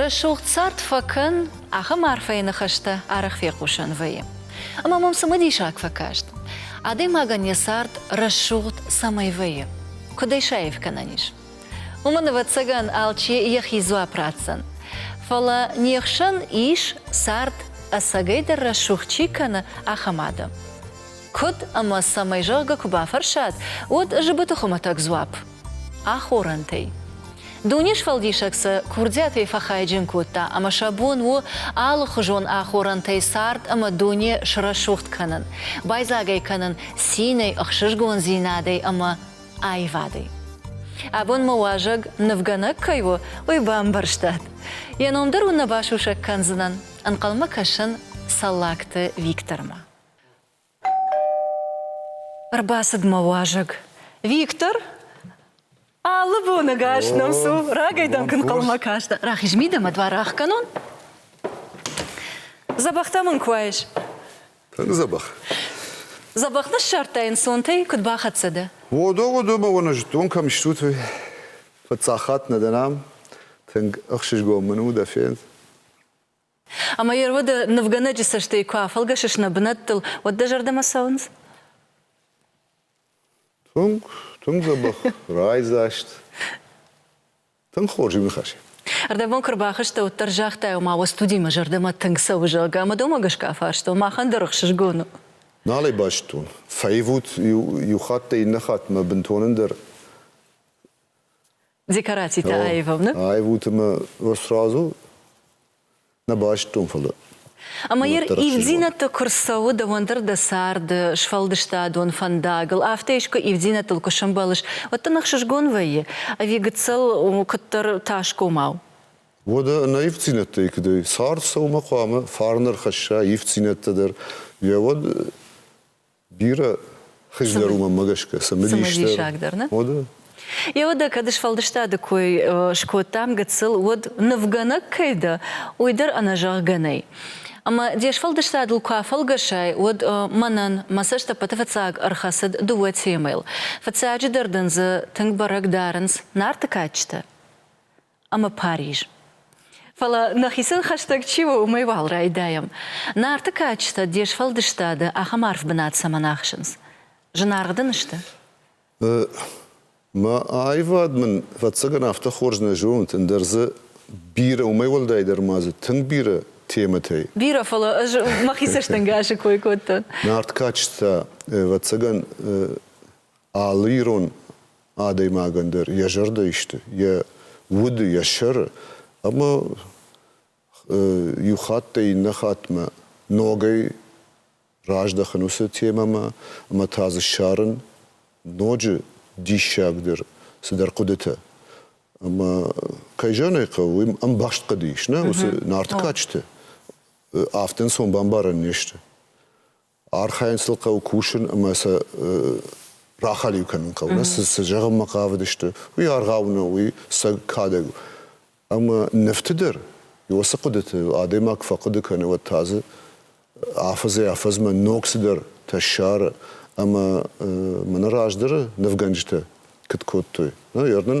Рӕсугъд цард фӕкӕн, ахӕм арфӕйы ныхӕстӕ арӕх фехъусӕн вӕййы. Ӕмӕ мӕм цымыдисаг фӕкаст, адӕймагӕн йӕ цард рӕсугъд цӕмӕй вӕййы, куыд ӕй саив кӕнӕн ис. Уымӕн, ӕвӕццӕгӕн, алчи йӕхи дзуапп ратдзӕн. Фӕлӕ не хсӕн ис, цард ӕцӕгӕйдӕр рӕсугъд чи кӕны, ахӕм адӕм. Куыд ӕмӕ цӕмӕй зӕгъгӕ куы бафӕрсат, уӕд зыбыты хуымӕтӕг дзуапп Ахорӕнтӕй. Дунесфӕлдисӕг сӕ курдиатӕй фӕхайджын кодта ӕмӕ сӕ бон у алыхуызон ахорӕнтӕй цард ӕмӕ дуне срӕсугъд кӕнын, байдзаг ӕй кӕнын цинӕй, ӕхсызгондзинадӕй ӕмӕ аивадӕй. Абон мӕ уазӕг нывгӕнӕг кӕй у, уый бамбӕрстат? Йӕ ном дӕр уын нӕ басусӕг кӕндзынӕн, ӕнхъӕлмӕ кӕсын Цӕллагты Виктормӕ. Ӕрбацыд мӕ уазӕг. Виктор! Алы боны гас нӕм цу, рагӕй дӕм куы нхъӕлмӕ кастӕ. Рахиз мидӕмӕ дуар ӕхгӕнон? Дзӕбӕхтӕ мын куы айс. Тынг дзӕбӕх. Дзӕбӕх ныссардтай ӕнцонтӕй, куыд бахӕццӕ дӕ? Уодо, уодо, мӕ уон, зӕддон кӕм стут, уый. Фыццаг хатт нӕ дӕ нӕм. Тынг ӕхсызгон мын у дӕ фенд. Ӕмӕ йе рвады нывгӕнӕджы цӕстӕй куы афӕлгӕсыс нӕ бынӕттыл, уӕд дӕ зӕрдӕмӕ цӕуынц? Тынг, тынг дзӕбӕх, райдзаст. Тынг хорз, иу ныхас. Ӕрдӕбон куы рбахызтӕ, уӕд дӕр загътай, ома уӕ студи мӕ зӕрдӕмӕ тынг цӕуы, зӕгъгӕ, ӕмӕ домӕ гӕсгӕ афарстон, махӕн дӕр ӕхсызгон у. Нал ӕй базыдтон. Фӕивут иу, иу хатт дӕ иннӕ хатт мӕ бынтон ӕндӕр. Декорацитӕ аивыны? Аивыты мӕ сразу нӕ байстон, фӕлӕ ӕмӕ ир ивддзинӕдты куы рцӕуы дӕуӕн дӕр дӕ царды сфӕлдыстадон фӕндагыл, афтӕ искуы ивддзинӕдтыл куы сӕмбӕлыс, уӕд дын ӕхсызгон вӕййы, ӕви гыццыл куыддӕр тасгомау? Уӕдӕ нӕ ивддзинӕдтӕй куыдӕй цард цӕуылмӕ хъуамӕ фарн ӕрхӕсса ивддзинӕдтӕ дӕр, йӕ уӕд Бирӕ хызгӕр уымӕ гӕсгӕ цымыдисдӕр дӕр уӕдӕ. Еуӕдӕ кӕд сфӕлдыстады кой скодтам гыццыл, уӕд нывгӕнӕг кӕй дӕ, уый дӕр ӕнӕзӕгъгӕ нӕй. Ӕмӕ де сфӕлдыстадыл куы афӕлгӕсай, уӕд мӕнӕн мӕ цӕстӕппӕты фыццаг ӕрхӕцыд дыууӕ темӕйыл. Фыццаджыдӕр дын дзы тынг бӕрӕг дарынц Нарты кадджытӕ. ӕмӕ Париж. Фӕлӕ нӕхицӕн хӕстӕг чи у, уымӕй уал райдайӕм. Нарты кадджытӕ де сфӕлдыстады ахӕм арф бынат цӕмӕн ахсынц? Зынаргъ дын сты? Мӕ аивад мын, ӕвӕццӕгӕн, афтӕ хорз нӕ зоны, тындӕр дзы бирӕ, уымӕй уӕлдайдӕр ма дзы тынг бирӕ темӕтӕй. Бирӕ, фӕлӕ ӕз мӕхи цӕстӕнгасы кой кодтон. Нарт кадджытӕ, ӕвӕццӕгӕн, алы ирон адӕймагӕн дӕр йӕ зӕрдӕ исты, йӕ уды, йӕ сӕры, ӕмӕ иу хаттӕй иннӕ хаттмӕ ногӕй раздӕхын уыцы темӕмӕ ӕмӕ та дзы ссарын ноджы диссагдӕр цыдӕр хъуыдытӕ. Ӕмӕ, кӕй зӕгъын хъӕуы, уым ӕмбӕхст хъуыды ис, нӕ уыцы Нарты кадджыты афтӕ ӕнцон бамбарӕн не сты. архайын сыл хъӕуы кусын ӕмӕ сӕ рахӕлиу кӕнын хъӕуы, цы зӕгъынмӕ хъавыдысты, уый аргъау нӕу, уый сӕ кадӕг у. Ӕмӕ нывты дӕр уыцы хъуыдыты адӕймаг куы фӕхъуыды кӕны, уӕд та дзы афӕдзӕй афӕдзмӕ ног цыдӕртӕ ссары ӕмӕ мӕнӕ раздӕры нывгӕнджытӕ куыд кодтой. Ныр нын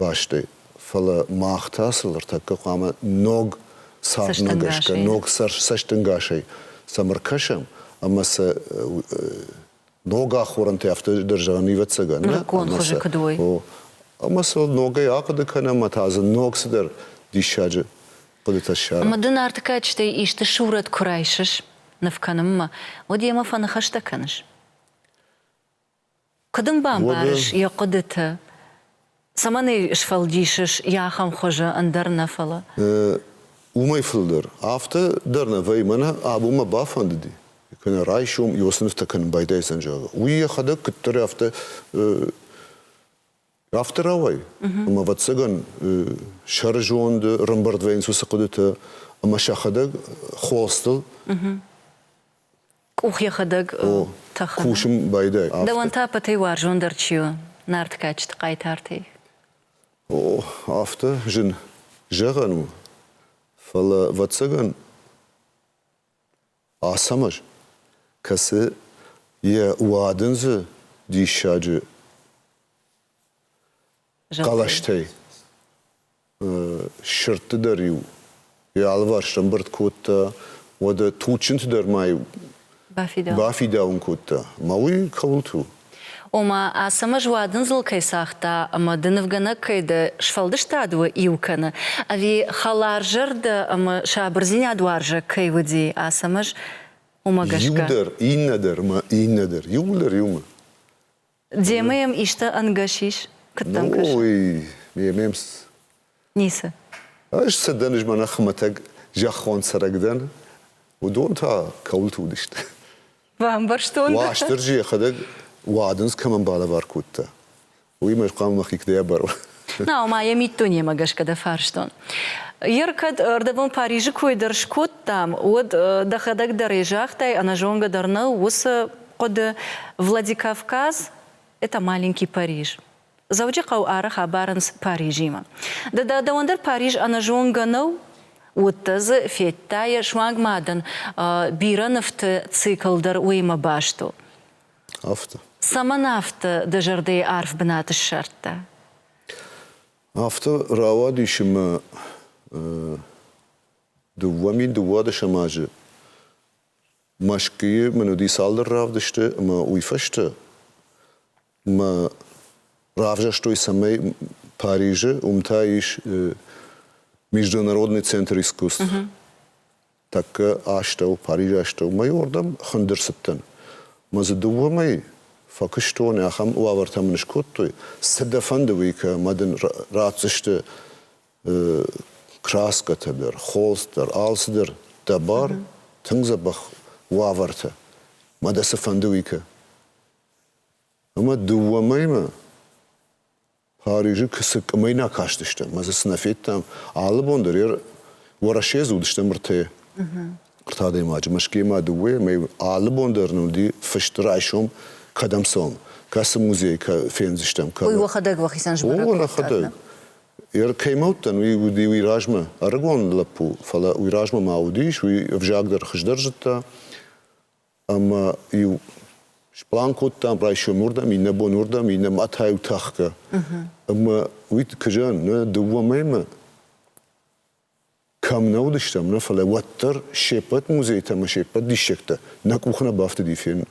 бӕсты. Фӕлӕ мах та сыл ӕртӕккӕ хъуамӕ ног цардмӕгӕсгӕ, ног цӕстӕнгасӕй сӕм ӕркӕсӕм ӕмӕ сӕ ног ахорӕнтӕ афтӕ дӕр зӕгъӕн ивӕццӕгӕн. Нырыккон хуызы куыд уой. Ӕмӕ сыл ногӕй ахъуыды кӕнӕм ӕмӕ та дзы ног цыдӕр диссаджы хъуыдытӕ ссарӕм. Ӕмӕ ды Нартыкӕчытӕй исты сурӕт куы райсыс ныв кӕнынмӕ, уӕд йемӕ фӕныхӕстӕ кӕныс? Куыд ын бамбарыс йӕ хъуыдыты? Цӕмӕн ӕй сфӕлдисыс йӕ ахӕм хуызы, ӕндӕр нӕ фӕлӕ? Уымӕй фылдӕр афтӕ дӕр нӕ вӕййы, мӕнӕ абон мӕ бафӕндыди, куынӕ райсом иу цы нывтӕ кӕнын байдайдзӕн, зӕгъы, уый йӕхӕдӕг куыддӕр афтӕ Афтӕ рауай, ӕмӕ ӕвӕццӕгӕн сӕрызонды рымбырд вӕййынц уыцы хъуыдытӕ ӕмӕ сӕхӕдӕг холстыл къух йӕхӕдӕг тӕхы. Кусын байдайы. Дӕуӕн та пӕтӕй уарзондӕр чи у? Нартыкӕчыты хъайтартӕй. О, афтӕ зын зӕгъӕн у, фӕлӕ, ӕвӕццӕгӕн, Ацӕмӕз, кӕцы йӕ уадындзы диссаджы хъӕлӕстӕй сырдты дӕр-иу йӕ алыварс ӕмбырд кодта, уӕдӕ туджджынты дӕр ма-иу бафидауын кодта. Мӕ уый кӕуылты у? Ома, Ацӕмӕз уадындзыл кӕй цагъта ӕмӕ ды нывгӕнӕг кӕй дӕ, сфӕлдыстад уӕ иу кӕны, ӕви хӕларзӕрдӕ ӕмӕ сабырдзинадуарзаг кӕй уыди Ацӕмӕз, уымӕ гӕсгӕ? Иуы дӕр, иннӕ дӕр ӕмӕ иннӕ дӕр, иууыл дӕр иумӕ. Демӕ йӕм исты ӕнгӕс ис? Куыд дӕм кӕсы? Ой, ме мемс Ницы. Ӕз цы дӕн, ӕз мӕнӕ хуымӕтӕг зӕххон цӕрӕг дӕн, уыдон та кӕуылты уыдысты? Бамбӕрстон. Уастырджи йӕхӕдӕг уадындз кӕмӕн балӕвар кодта, уыимӕ ӕз хъуамӕ мӕхи куыдӕй абарон. Нау ма йӕ миддунемӕ гӕсгӕ дӕ фарстон. Ер кӕд ӕрдӕбон Парижы кой дӕр скодтам, уӕд дӕхӕдӕг дӕр загътай, ӕнӕзонгӕ дӕр нӕу уыцы хъуыды, Владикавказ, это маленький Париж. Дзӕуджыхъӕу арӕх абарынц Парижимӕ. Ды дӕ дӕуӕн дӕр Париж ӕнӕзонгӕ нӕу? Уыдтӕ дзы, федтай, суанг ма дын бирӕ нывты цикл дӕр уыимӕ баст у. Афтӕ. Цӕмӕн афтӕ дӕ зӕрдӕйы арф бынат ссардта? Афтӕ рауадис ӕмӕ дыууӕ мин дыууадӕсӕм азы Мӕскуыйы мын уыди цалдӕр равдысты ӕмӕ уый фӕстӕ мӕ равзӕрстой, цӕмӕй Парижы уым та ис международный центр искусств. Uh-huh. Тӕккӕ астӕу, Парижы астӕумӕ уырдӕм хындыр цыдтӕн. Мӕ дзы дыууӕмӕй фӕкуыстон, ахӕм уавӕртӕ мын скодтой. Цы дӕ фӕнды уый, кӕмӕ дын ратдзысты краскӕтӕ дӕр, холст дӕр, алцыдӕр дӕ бар, uh-huh. тынг дзӕбӕх уавӕртӕ. Мӕ дӕ цы фӕнды уый, кӕ. Ӕмӕ дыууӕ мӕймӕ Парижы цы къуымӕй нӕ кастыстӕм, ӕмӕ дзы цы нӕ федтам, алы бон дӕр йӕ Уӕрӕсе дзы уыдысты ӕртӕ ӕртӕ адӕймаджы, Мӕскуыйы ма дыууӕ, ӕмӕ алы бон дӕр нын уыди фыст райсом, кӕдӕм цӕуӕм, кӕцы музей фендзыстӕм. Уый уӕхӕдӕг уӕхицӕн сбӕрӕг уӕхӕдӕг. Йӕ кӕй ма уыдтӕн, уый уыди уый размӕ ӕрыгон лӕппу, фӕлӕ уый размӕ ма уыдис, уый ӕвзаг дӕр хуыздӕр зыдта. ӕмӕ-иу сплан кодтам райсом уырдӕм, иннӕ бон уырдӕм, иннӕ мӕтӕй тӕхгӕ. Ӕмӕ уый куы зӕгъын, нӕ дыууӕ мӕймӕ кӕм нӕ уыдыстӕм, нӕ, фӕлӕ уӕддӕр се ппӕт музейтӕ ӕмӕ се ппӕт диссӕгтӕ нӕ къух нӕ бафтыди фенын.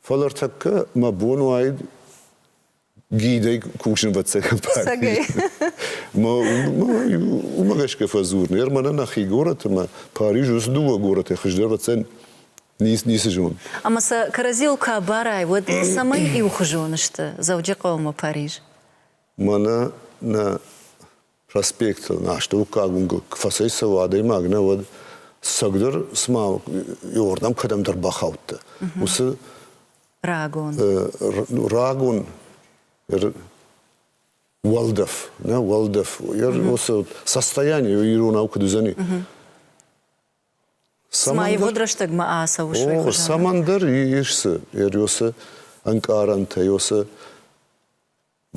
Фӕлӕ ӕртӕккӕ мӕ бон уаид гидӕй кусинвӕццӕ компани. Уымӕ гӕсгӕ фӕдзурын, ӕр мӕнӕ нӕхи горӕтмӕ, Париж уыцы дыууӕ горӕтӕй хуыздӕрвӕццӕн ницы зон. Ӕмӕ сӕ кӕрӕдзийыл куы абарай, уӕд цӕмӕй иухуызон сты Дзӕуджыхъӕумӕ Париж? Мӕнӕ нӕ проспектыл астӕуккаг уынгыл куы фӕцӕйцӕуы адӕймаг, нӕ уӕд сӕгдӕр цыма иуырдӕм кӕдӕмдӕр бахаудта. Уыцы рагон рагон уӕлдӕф, нӕ уӕлдӕф, уыцы состояние иронау куыд уыдзӕни. Цыма ивгъуыд рӕстӕгмӕ ацӕуы О, цӕмӕндӕр ис цы, уыцы ӕнкъарӕнтӕ, уыцы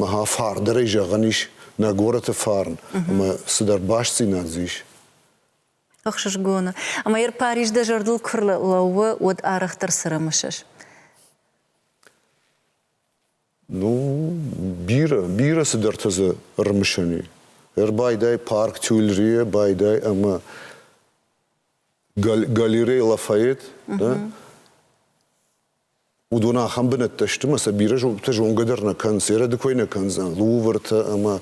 Мӕхӕ фарндӕрӕй зӕгъӕн ис нӕ горӕты фарн ӕмӕ цыдӕр бастдзинад дзы ис. Ӕхсызгоны. Ӕмӕ йӕ Париж дӕ зӕрдыл куы рлӕууы, уӕд арӕхдӕр цы рымысыс? Ну, бирӕ, бирӕ цыдӕртӕ дзы рымысӕн и. Ӕрбайдай парк Тюильрие, байдай ӕмӕ гал- галерей Лафайет, да? уыдон ахӕм бынӕттӕ сты, ӕмӕ сӕ бирӕ зонгӕ дӕр нӕ кӕнынц, ерады кой нӕ кӕндзӕн, Лувртӕ ӕмӕ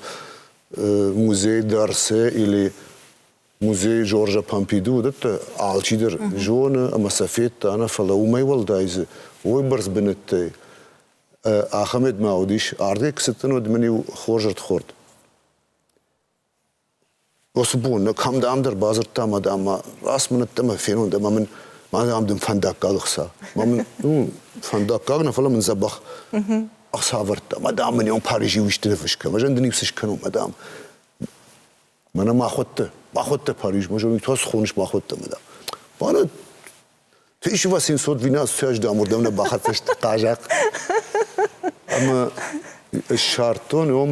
музей Дарсе или музей Жоржа Помпиды уыдӕттӕ алчидӕр зоны ӕмӕ сӕ федта нӕ, фӕлӕ уымӕй уӕлдай дзы ойбӕрц бынӕттӕй Ахамед ма уыдис, ардӕг куы цыдтӕн, уӕд мын-иу хорз ӕрдхорд. Уыцы бон нӕ кӕмдӕм дӕр бадзырдтам адӕммӕ, асмынӕдтӕ мӕ фенон, ӕмӕ мын мӕнӕ ам дын фӕндаггаг ӕхца. Ӕмӕ мын, ну, фӕндаггаг нӕ, фӕлӕ мын дзӕбӕх ӕхца ӕвӕрдта. Мадам, мын ӕм Парижи уистӕ ныфыс кӕн. Ӕз ӕн дын ницы скӕнон, мадам. Мӕнӕ махуӕттӕ, махуӕттӕ Париж, мӕ зонгӕ, уый та цы хоныс махуӕттӕ, мадам? Мӕнӕ 1712 ӕм уырдӕм нӕ бахӕццӕ сты хъазахъ. Ӕмӕ ссардтон ӕм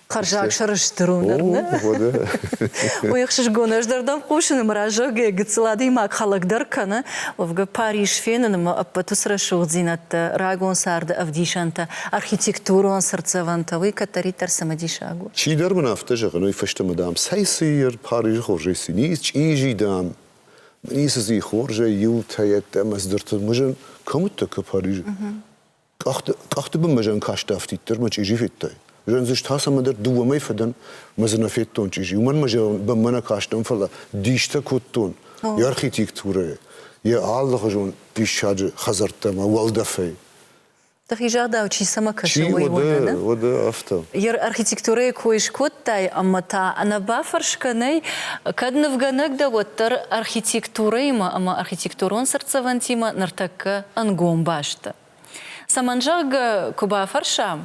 Хӕрзаг сӕрыстыр у ныр, ныр. Уый ӕхсызгон ӕз дӕр дӕм хъусыны мӕ раззагӕй гыццыл адӕймаг хӕлӕг дӕр кӕны. Уӕвгӕ Париж фенын ӕмӕ ӕппӕт уыцы рӕсугъддзинӕдтӕ, рагон царды ӕвдисӕнтӕ, архитектурон цыртдзӕвӕнтӕ, уый кӕддӕриддӕр цымыдисаг у. Чидӕр мын афтӕ зӕгъы, Уый фӕстӕ мӕ, дам, цӕй-цыйы Парижы хорзӕй цы низ чъизи, дам, ницы дзы и хорзӕй иутӕ, йеддӕмӕ цы дыртыл мызын, кӕм уыдтӕ, куы Парижы. Къӕхты бынмӕ зӕн касты афтиддӕр мӕ чъизи федтай. Зӕндзыст та цӕмӕдӕр дыууӕ мӕй фӕдӕн мӕ дзы нӕ федтон чъизи. Уымӕн мӕ зӕгъынмӕ нӕ кастӕн, фӕлӕ дистӕ кодтон йӕ архитектурӕйы, йӕ алыхуызон диссаджы хӕдзӕрттӕм уӕлдӕфӕй. Дӕхи загъдау, чи цӕмӕ кӕсы, уый уӕдӕ, уӕдӕ афтӕ. Йӕ архитектурӕйы кой скодтай ӕмӕ та нӕ бафӕрс кӕнай, кӕд нывгӕнӕг дӕ, уӕддӕр архитектурӕимӕ ӕмӕ архитектурон цыртдзӕвӕнтимӕ ныртӕккӕ ӕнгом баст дӕ. Цӕмӕн, зӕгъгӕ, куы бафӕрсӕм,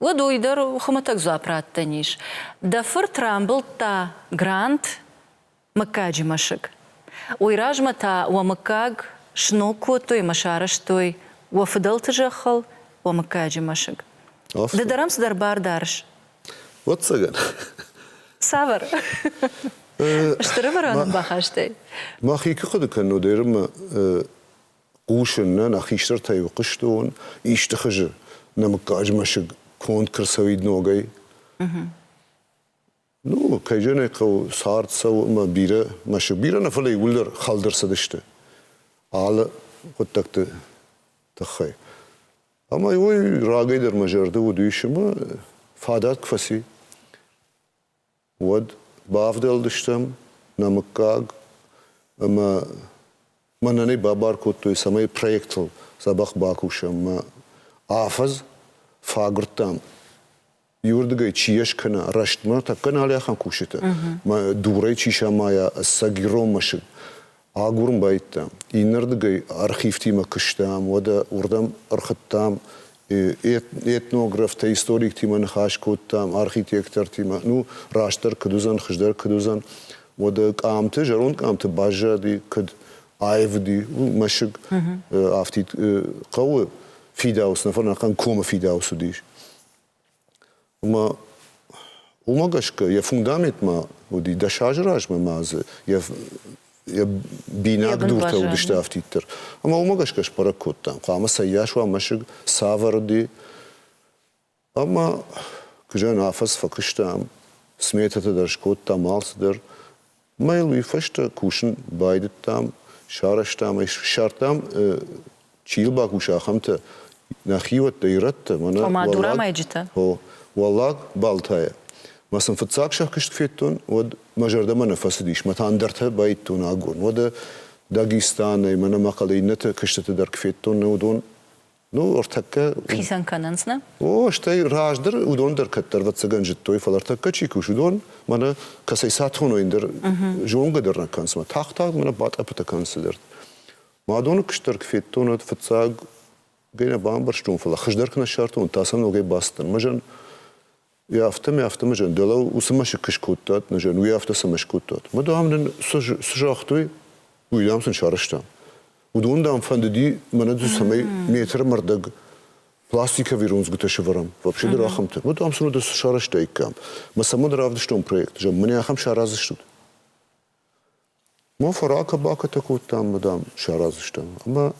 уӕд уый дӕр хуымӕтӕг дзуапп раттӕн ис. Дӕ фырт рамбылдта грант мыггаджы мӕсыг. Уый размӕ та уӕ мыггаг сног кодтой мӕ сарӕзтой уӕ фыдӕлты зӕххыл уӕ мыггаджы мӕсыг. Ды дӕрӕм цыдӕр бар дарыс? Ӕвӕццӕгӕн. Цавӕр? Стыр ӕвӕрӕнон бахастӕй. Мӕхи куы хъуыды кӕнон, Ерымӕ Хъусын нӕ, нӕ хистӕртӕ иу хъуыстон исты хызы, нӕ мыггаг мӕсыг конд куы рцӕуид ногӕй. Ну, кӕй зӕгъын хъӕуы, цард цӕуы ӕмӕ бирӕ мӕсыг, бирӕ нӕ, фӕлӕ иууылдӕр хӕлд ӕрцыдысты алы хъуыддӕгты тыххӕй. Ӕмӕ уый рагӕй дӕр мӕ зӕрды уыд исынмӕ, фадат куы фӕци. уӕд бавдӕлдыстӕм нӕ мыггаг ӕмӕ мӕнӕ нӕ бабар кодтой, цӕмӕй проектыл дзӕбӕх бакусӕм. Мӕ афӕдз фӕагуырдтам, иуырдыгӕй чи йӕ скӕна рӕстмӕ, тӕккӕ налӕхъӕн кусджыты, дурӕй чи самайа ӕцӕг ирон мӕсыг, Агурын байдта. Иннӕрдыгӕй архивтимӕ куыстам, уӕдӕ уырдӕм ӕрхуыдтам этнографтӕ, историктимӕ ныхас кодтам, архитектортимӕ, ну, растдӕр куыд уыдзӕн, хуыздӕр куыд уыдзӕн. Уӕдӕ къамты, зӕронд къамты баззади, куыд аивди мӕсыг, афтид хъӕуы фидауц, нӕ фӕрнӕхъӕн комы фидауц уыдис. Ӕмӕ уымӕ гӕсгӕ йӕ фундаметмӕ уыди дӕс азы размӕ ма дзы йӕ йӕ бинаг дуртӕ уыдысты афтиддӕр. Ӕмӕ уымӕ гӕсгӕ сбӕрӕг кодтам, хъуамӕ цӕййас уа мӕсыг, цавӕр уыди. Ӕмӕ куы зӕгъын, афӕдз фӕкуыстам, сметӕтӕ дӕр скодтам, алцыдӕр. Ӕмӕ йыл уый фӕстӕ кусын байдыдтам, сарӕзтам ӕй, ссардтам, чи йыл бакуса, ахӕмтӕ, нӕ хиуӕттӕ, ирӕттӕ, мӕнӕ Ома, дурӕмӕйджытӕ? О, Уӕллаг Балтайӕ. Ма сын фыццаг сӕ куыст федтон, уӕд мӕ зӕрдӕмӕ нӕ фӕцыдис, мӕ та ӕндӕртӕ баидтон агон. Уӕдӕ Дагестанӕй, мӕнӕ мӕ хъӕлӕ иннӕтӕ куыстыты дӕр куы федтон, нӕ уыдон Ну, ӕртӕккӕ... Хицӕн кӕнынц, нӕ? О, стӕй раздӕр уыдон дӕр кӕддӕр ӕвӕццӕгӕн зыдтой, фӕлӕ ӕртӕккӕ чи кусы, уыдон мӕнӕ кӕцӕй сӕ тоной дӕр зонгӕ дӕр нӕ кӕнынц, мӕ тагъд-тагъд мӕнӕ батъӕппытӕ кӕнын цыдӕр. Мӕ доны куыстдӕр куы федтон, уӕд фыццаг нӕ бамбӕрстон, фӕлӕ хуыздӕр куы нӕ ссардтон, уӕд та сӕ ногӕй бацыдтӕн. Мӕ зӕн Уый афтӕ мӕ афтӕ зӕн, дӕлӕ уыцы мӕсыг скодтат, нӕ зӕн, уый афтӕ цӕмӕ скодтат? Мад ам нын цы загътой, уый дам сын сарӕзтам. Уыдон, дам, фӕндыди, мӕнӕ дзы цӕмӕй метры мӕрдӕг пластиковый рондзгуытӕ сӕвӕрӕм, вообще дӕр ахӕмтӕ. Мад ам сын уыдон сарӕзтаиккам. Мӕ сӕ мад равдыстон проект, зӕгъ, мын ахӕм саразыстут. Ма фӕракӕ-бакӕтӕ кодтам, мадам, саразыстам. Ӕмӕ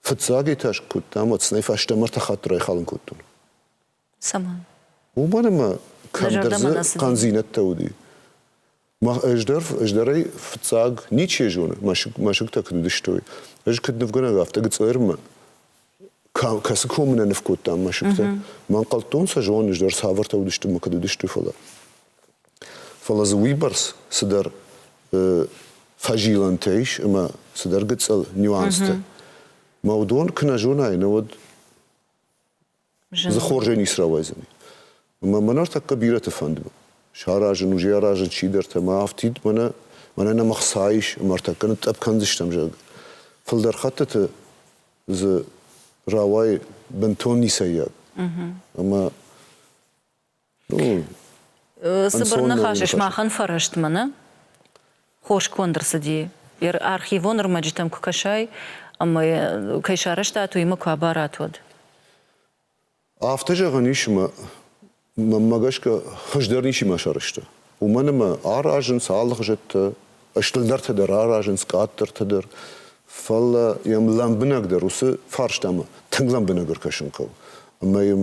Фыццаг этаж куы уыдтам, уӕд сын ӕй фӕстӕмӕ ӕртӕ хатты райхалын кодтон. Цӕмӕн? Уымӕн ӕмӕ кӕмдӕр дзы хъӕндзинӕдтӕ уыди. Ӕз дӕр, ӕз дӕр ӕй фыццаг ничи зоны, мӕсыг, мӕсыгтӕ куыд уыдыстой. Ӕз куыд нывгӕнӕг, афтӕ Гцъермӕ кӕцы комы нӕ ныв кодтам мӕсыгтӕ, мӕ ӕнхъӕлдтон сӕ зонын, ӕз дӕр цавӕртӕ уыдысты мӕ куыд уыдысты, фӕлӕ. Фӕлӕ дзы уыйбӕрц цыдӕр фӕзилӕнтӕ ис ӕмӕ цыдӕр гыцъыл нюанстӕ. Мӕ уыдон куы нӕ зонай, нӕ уӕд дзы хорзӕй ницы рауайдзӕни. Ӕмӕ мӕ ныртӕккӕ бирӕты фӕнды саразын, уже аразын чидӕртӕ, мӕ афтид мӕнӕ мӕнӕ нӕм ӕхца ис, ӕмӕ ӕртӕккӕ нытътъӕпп кӕндзыстӕм, зӕгъгӕ. Фылдӕр хӕттыты дзы рауайы бынтон ницӕййаг. Ӕмӕ Цыбыр ныхас, сымахӕн фӕрӕстмӕ, нӕ? Хосгонд ӕрцыди, архивон ӕрмӕджытӕм куы кӕсай ӕмӕ кӕй сарӕзтат, уыимӕ куы абарат, уӕд. Афтӕ зӕгъӕн ис ӕмӕ мӕнмӕ гӕсгӕ хуыздӕр ничима сарӕзта. Уымӕн ӕмӕ аразынц алыгъзӕттӕ, стырдӕртӕ дӕр аразынц, къаддӕртӕ дӕр. Фӕлӕ йӕм лӕмбынӕгдӕр уыцы фарстамӕ тынг лӕмбынӕг ӕркӕсын хъӕуы. Ӕмӕ йӕм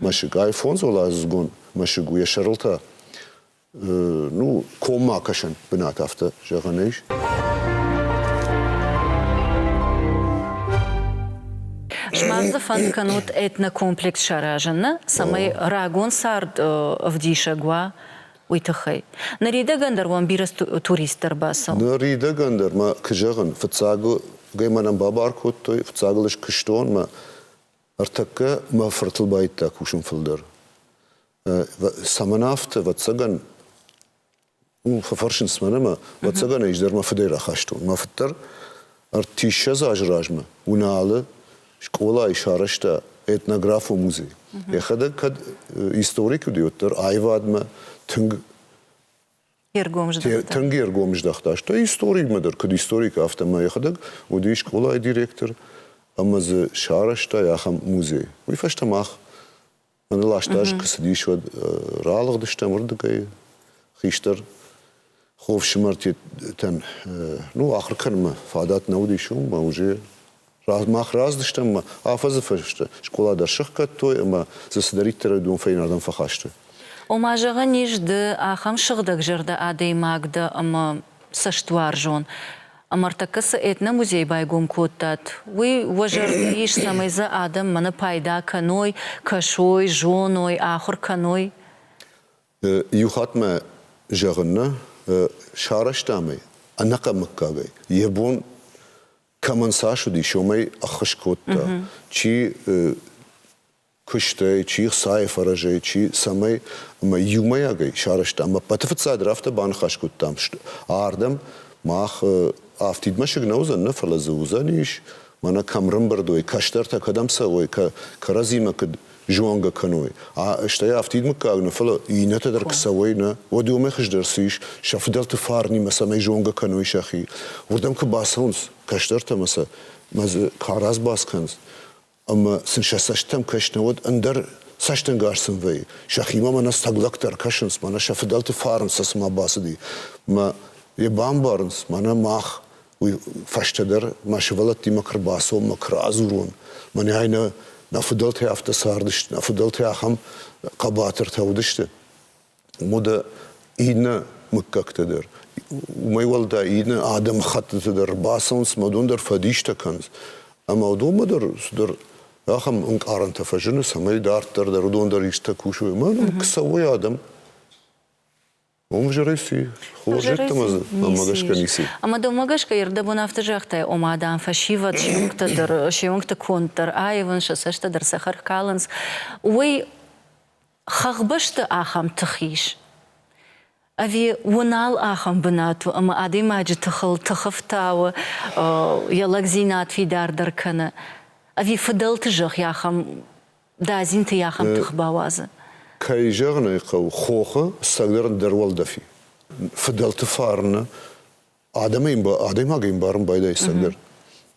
мӕсыг. Ай фондзуӕладзыгон мӕсыг у, йӕ сӕрыл та, ну, коммӕ кӕсӕн бынат афтӕ зӕгъӕн ис. Сымах дзы фӕнд кӕнут этнокомплекс саразыны, цӕмӕй рагон цард ӕвдисӕг уа, уый тыххӕй. Ныридӕгӕн дӕр уӕм бирӕ турист дӕр бацӕуы. Ныридӕгӕн дӕр мӕ куы зӕгъын, фыццаг мӕнӕн бабар кодтой, фыццагыл ӕз куыстон, мӕ Ӕртӕккӕ мӕ фыртыл байдта кусын фылдӕр. Цӕмӕн афтӕ, ӕвӕццӕгӕн, фӕфӕрсынц мӕн ӕмӕ, ӕвӕццӕгӕн, ӕз дӕр мӕ фыдӕй рахастон. Мӕ фыд дӕр ӕртиссӕдз азы размӕ Уыналы скъолайы сарӕзта этнографон музей. Йӕхӕдӕг кӕд историк уыди, уӕддӕр аивадмӕ тынг Тынг ӕргом здӕхта. Стӕй историкмӕ дӕр, куыд историк, афтӕ мӕ йӕхӕдӕг уыди скъолайы директор ӕмӕ дзы сарӕзтай ахӕм музей. Уый фӕстӕ мах мӕнӕ ласт аз куы цыдис, уӕд ралыгъдыстӕм уырдыгӕй. Хистӕр хо фсымӕртӕн, ну, ахуыр кӕнынмӕ фадат нӕ уыдис, у мӕ уже Мах разы стӕм ӕмӕ афӕдзы фӕстӕ скъола дӕр сыхгӕдтой ӕмӕ дзы цыдӕриддӕр уыдон фӕйнӕрдӕм фӕхӕст сты. Ома, зӕгъӕн ис, ды ахӕм сыгъдӕгзӕрдӕ адӕймаг дӕ ӕмӕ цӕстуарзон. Ӕмӕ ӕртӕккӕ цы этномузей байгом кодтат, уый уӕ зӕрды ис, цӕмӕй дзы адӕм мӕнӕ пайда кӕной, кӕсой, зоной, ахуыр кӕной? Иу хатт мӕ зӕгъын нӕ сарӕзтам ӕй ӕнӕкъӕмыггагӕй. Йӕ бон кӕмӕн цас уыди, сомӕй ӕххуыс кодта, чи куыстӕй, чи хцайы фӕрӕзӕй, чи цӕмӕй, ӕмӕ иумӕйагӕй сарӕзтам. Ӕппӕты фыццагдӕр афтӕ баныхас кодтам, ардӕм мах афтид мӕсыг нӕ уыдзӕн, нӕ, фӕлӕ дзы уыдзӕнис, мӕнӕ кӕм рымбырд уой, кӕстӕртӕ кӕдӕм цӕуой, кӕрӕдзимӕ куыд зонгӕ кӕной. Стӕй афтид мыггаг нӕ, фӕлӕ иннӕтӕ дӕр куы цӕуой, нӕ, уӕд уымӕй хуыздӕр цы ис, сӕ фыдӕлты фарнимӕ цӕмӕй зонгӕ кӕной сӕхи. Уырдӕм куы бацӕуынц кӕстӕртӕ ӕмӕ сӕ дзы кӕрӕдз баскӕнынц, ӕмӕ сын сӕ цӕстытӕм кӕс нӕ, уӕд ӕндӕр цӕстӕнгас сын вӕййы. Сӕхимӕ мӕнӕ сӕг лӕгтӕ ӕркӕсынц, мӕнӕ сӕ фыдӕлты фарн сӕ цыма бацыди. Мӕ йӕ бамбарынц, мӕнӕ мах уый фӕстӕдӕр мӕ сывӕллӕттимӕ куы рбацон, мӕ куы радзурон, мӕнӕй нӕ нӕ фыдӕлтӕй афтӕ цардысты, нӕ фыдӕлтӕй ахӕм хъӕбатыртӕ уыдысты. Мода иннӕ мыггӕгтӕ дӕр, уымӕй уӕлдай иннӕ адӕмы хӕттыты дӕр бацӕуынц, мӕ дон дӕр фӕдистӕ кӕнынц. Ӕмӕ уыдонмӕ дӕр цыдӕр ахӕм ӕнкъарӕнтӕ фӕзыны, цӕмӕй дарддӕр дӕр уыдон дӕр истытӕ кусой. Мӕ ном куы цӕуой адӕм, Уым Жереси, хорзӕттӕ ӕмӕ гӕсгӕ ницы. Ӕмӕ дӕумӕ гӕсгӕ ирдӕбон афтӕ загътай, ома, дам, фӕсивӕд се уынгтӕ дӕр, се уынгты конд дӕр аивын, сӕ цӕстӕ дӕр цӕхӕр калынц, уый хӕхбӕсты ахӕм тых ис? Ӕви уы нал ахӕм бынат у, ӕмӕ адӕймаджы тыхыл тыхы фтауы, йӕ лӕгдзинад фидардӕр кӕны? Ӕви фыдӕлты зӕхх ахӕм Дадзинты йӕ ахӕм тых бауадзы. Кӕй зӕгъын ӕй хъӕуы, хохы цӕгӕрн дӕр уӕлдӕф и. Фыдӕлты фарны адӕмӕй адӕймагӕй ӕмбарын байдайы цӕгӕрн.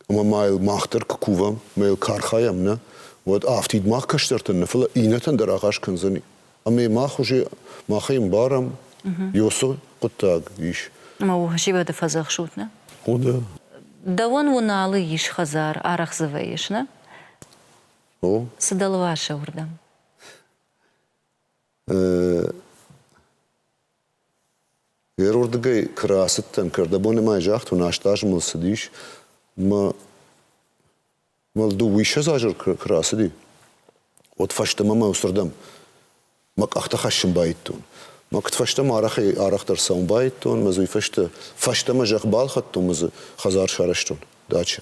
Ӕмӕ ма йыл мах дӕр куы кувӕм, ма йыл кархайӕм, нӕ, уӕд афтид мах кӕстӕртӕн нӕ, фӕлӕ иннӕтӕн дӕр агъаз кӕндзӕни. Ӕмӕ мах уже махӕй ӕмбарӕм, ёсы хъуыддаг ис. Ма у зивӕды фӕдзӕхсут, нӕ? О, да. Дӕуӕн Уыналы ис хӕдзар, арӕхдзывӕй ис, нӕ? О? Цы дӕлвӕсы уырдӕм? Гъеруырдыгӕй куы рацыдтӕн, кӕрдӕбоны мӕй загъд уынӕст азмӕлд цыдис мӕ мыл дыууиссӕдз азы куы рацыди, уӕд фӕстӕмӕ мӕ уыцырдӕм Мӕ къӕхтӕ хӕссын баидтон. Мӕ куыдфӕстӕ ма арӕхӕй арӕхдӕр цӕуын баидтон, мӕ дзы уый фӕстӕ, фӕстӕмӕ зӕхх балхӕдтон, мӕ дзы хӕдзар сарӕзтон дачӕ.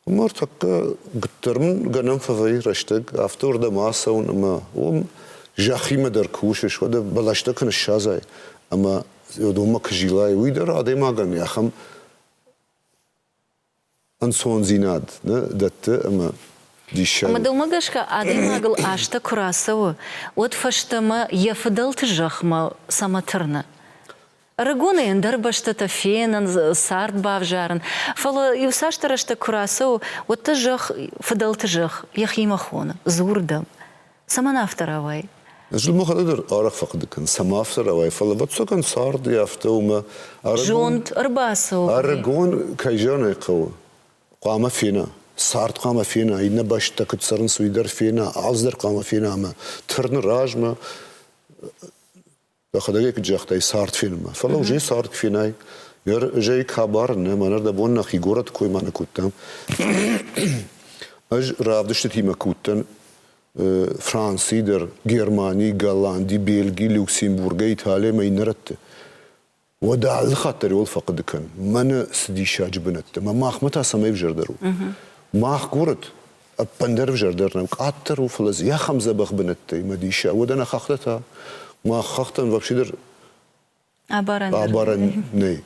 Ӕмӕ ӕртӕккӕ гыддӕр мын гӕнӕн фӕвӕййы рӕстӕг афтӕ уырдӕм ацӕуын, ӕмӕ уым зӕххимӕ дӕр кусыс, уӕдӕ бӕлӕстӕ куы ныссадзай ӕмӕ донмӕ куы зилай, уый дӕр адӕймагӕн ахӕм ӕнцондзинад нӕ дӕтты ӕмӕ диссаг. Ӕмӕ дӕумӕ гӕсгӕ адӕймагыл азтӕ куы рацӕуы, уӕд фӕстӕмӕ йӕ фыдӕлты зӕхмӕ цӕмӕ тырны? Ӕрыгонӕй ӕндӕр бӕстӕтӕ фенынц, цард бавзарын, фӕлӕ иуцасдӕр рӕстӕг куы рацӕуы, уӕд дӕ зӕхх, фыдӕлты зӕхх, йӕхимӕ хоны, дзур дӕм. Цӕмӕн афтӕ рауай? Ӕз мӕхӕдӕг дӕр арӕх фӕхъуыды кӕн, цӕмӕн афтӕ рауай, фӕлӕ ӕвӕццӕгӕн царды афтӕ уымӕ Зонд ӕрбацӕуы. Ӕрыгон кӕй зӕгъын ӕй хъӕуы, хъуамӕ фена. Цард хъуамӕ фена, иннӕ бӕстӕ куыд цӕрынц, уый дӕр фена, алцыдӕр хъуамӕ фена ӕмӕ тырны размӕ Дӕхӕдӕг куыд загътай цард фильмы. Фӕлӕ уже цард фильмӕй. Гӕр жей кабар нӕ мӕнӕ дӕ бон нӕхи горӕты кой ма нӕ кодтам. Ӕз равдыстытимӕ куыдтӕн Франци дӕр, Германи, Голланди, Бельги, Люксембургӕ, Италиямӕ иннӕрӕтты. Уӕдӕ алы хатт дӕр уыл фӕхъуыды кӕн. Мӕнӕ цы диссаджы бынӕттӕ. Мӕ махмӕ та цӕмӕй взӕрдӕр у? Мах горӕт ӕппындӕр ӕвзӕрдӕр нӕм къаддӕр у, фӕлӕ дзы ахӕм дзӕбӕх бынӕттӕй мӕ диссаг. Уӕдӕ нӕ хӕхтӕ та? Мах хӕхтӕн вообще дӕр абарӕн, абарӕн нӕй.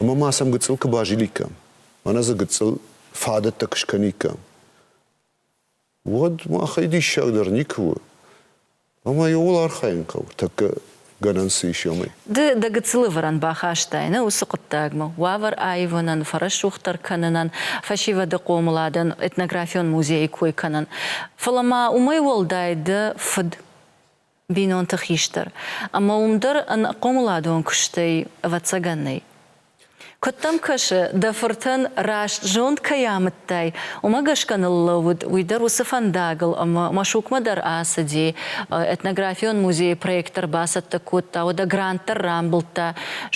Ӕмӕ ма сӕм гыццыл куы базиликкам, мӕнӕ дзы гыццыл фадӕттӕ куы скӕниккам, уӕд махӕй диссагдӕр никуы у. Ӕмӕ ууыл архайын хъӕуы тӕккӕ гӕнӕн цы ис уымӕй. Ды дӕ гыццыл ӕвӕрӕн бахастай нӕ уыцы хъуыддагмӕ, уавӕр аивынӕн, фӕрӕсугъддӕр кӕнынӕн, фӕсивӕды хъомыладӕн, этнографион музейы кой кӕнын. Фӕлӕ ма уымӕй уӕлдай дӕ фыд бинонты хистӕр ӕмӕ уым дӕр ӕнхъомыладон куыстӕй, ӕвӕццӕгӕн, нӕй. Куыд дӕм кӕсы, дӕ фыртӕн раст зонд кӕй амыдтай, уымӕ гӕсгӕ ныллӕууыд уый дӕр уыцы фӕндагыл ӕмӕ Машукмӕ дӕр ацыди, этнографион музейы проектор бацӕттӕ кодта, уӕдӕ грант дӕр рамбылдта,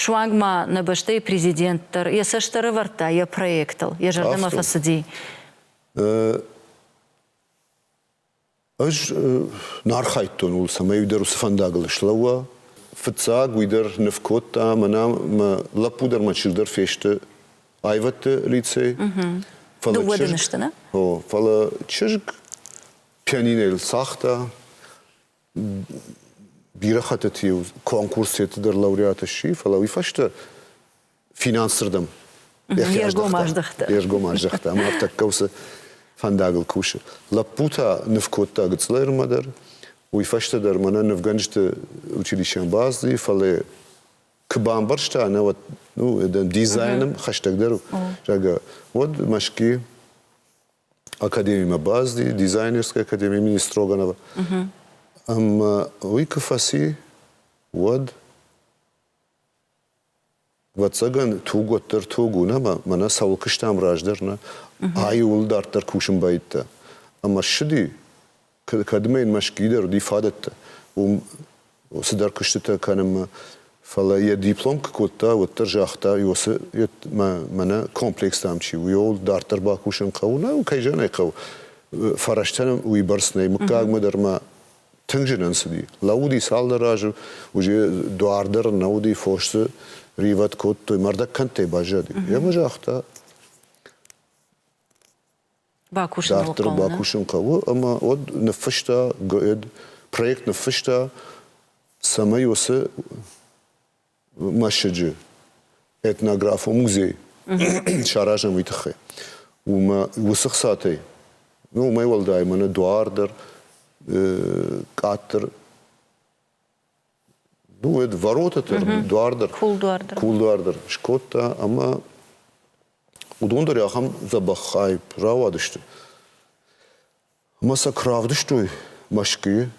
суанг ма нӕ бӕстӕйы президент дӕр йӕ цӕст ӕрӕвӕрдта йӕ проектыл, йӕ зӕрдӕмӕ фӕцыди. Ӕз нӕ архайдтон ууыл, цӕмӕй уый дӕр уыцы фӕндагыл слӕууа. Фыццаг уый дӕр ныв кодта, мӕнӕ мӕ лӕппу дӕр мӕ чызг дӕр фесты аивӕдты лицей. Фӕлӕ Дыууӕ дын сты, нӕ? О, фӕлӕ чызг пианинӕйыл цагъта. Бирӕ хӕттыты-иу конкурсеты дӕр лауреат сси, фӕлӕ уый фӕстӕ финансырдӕм йе ргом аздӕхта. Йе ргом аздӕхта ӕмӕ тӕккӕ уыцы фӕндагыл кусы. Лӕппу та ныв кодта Гыцълермӕ дӕр. Уый фӕстӕ дӕр мӕнӕ нывгӕнджыты училищӕм бацыди, фӕлӕ куы бамбӕрста, науӕд ну, дизайным хӕстӕгдӕр у, зӕгъгӕ, уӕд Мӕскуи академимӕ бацыди, дизайнерской академии имени Строганова. Ӕмӕ уый куы фӕци, уӕд Ӕвӕццӕгӕн, туг уӕддӕр туг у, нӕ? Мӕнӕ цӕуыл куыстам раздӕр, нӕ? Ай ууыл дарддӕр кусын бӕйттӕ. Ӕмӕ ссыди, кӕдмӕ йын мӕ скидӕр уыди фадӕттӕ, уым цыдӕр куыстытӕ кӕнынмӕ. Фӕлӕ йӕ диплом куы кодта, уӕддӕр загъта, Иосы, мӕнӕ комплекс дам чи у, уый дарддӕр бакусын хъӕуы. Нӕ, кӕй зӕгъын ӕй хъӕуы, фӕрӕзтӕн уыйбӕрц нӕй. Мыггагмӕ дӕр ма Тынг зын ӕнцыди. Лӕууыди цалдӕр азы, уыджы дуар дӕр нӕ уыди, фос дзы ривӕд кодтой, мӕрдӕг кӕндтӕй баззади. Йӕ мӕ загъта, бакусын дарддӕр хъӕуы, бакусын хъӕуы, ӕмӕ уӕд ныффыста, проект ныффыста, цӕмӕй уыцы мӕсыджы этнографон музей саразӕм уый тыххӕй. Уымӕ уыцы хцатӕй, ну, уымӕй уӕлдай мӕнӕ дуар дӕр, къаддӕр ну, это ворота дӕр, дуар дӕр. Кулдуар дӕр. Кулдуар дӕр скодта ӕмӕ уыдон дӕр ахӕм дзӕбӕх хайып рауадысты. Ӕмӕ сӕ куы равдыстой Мӕскуыйы,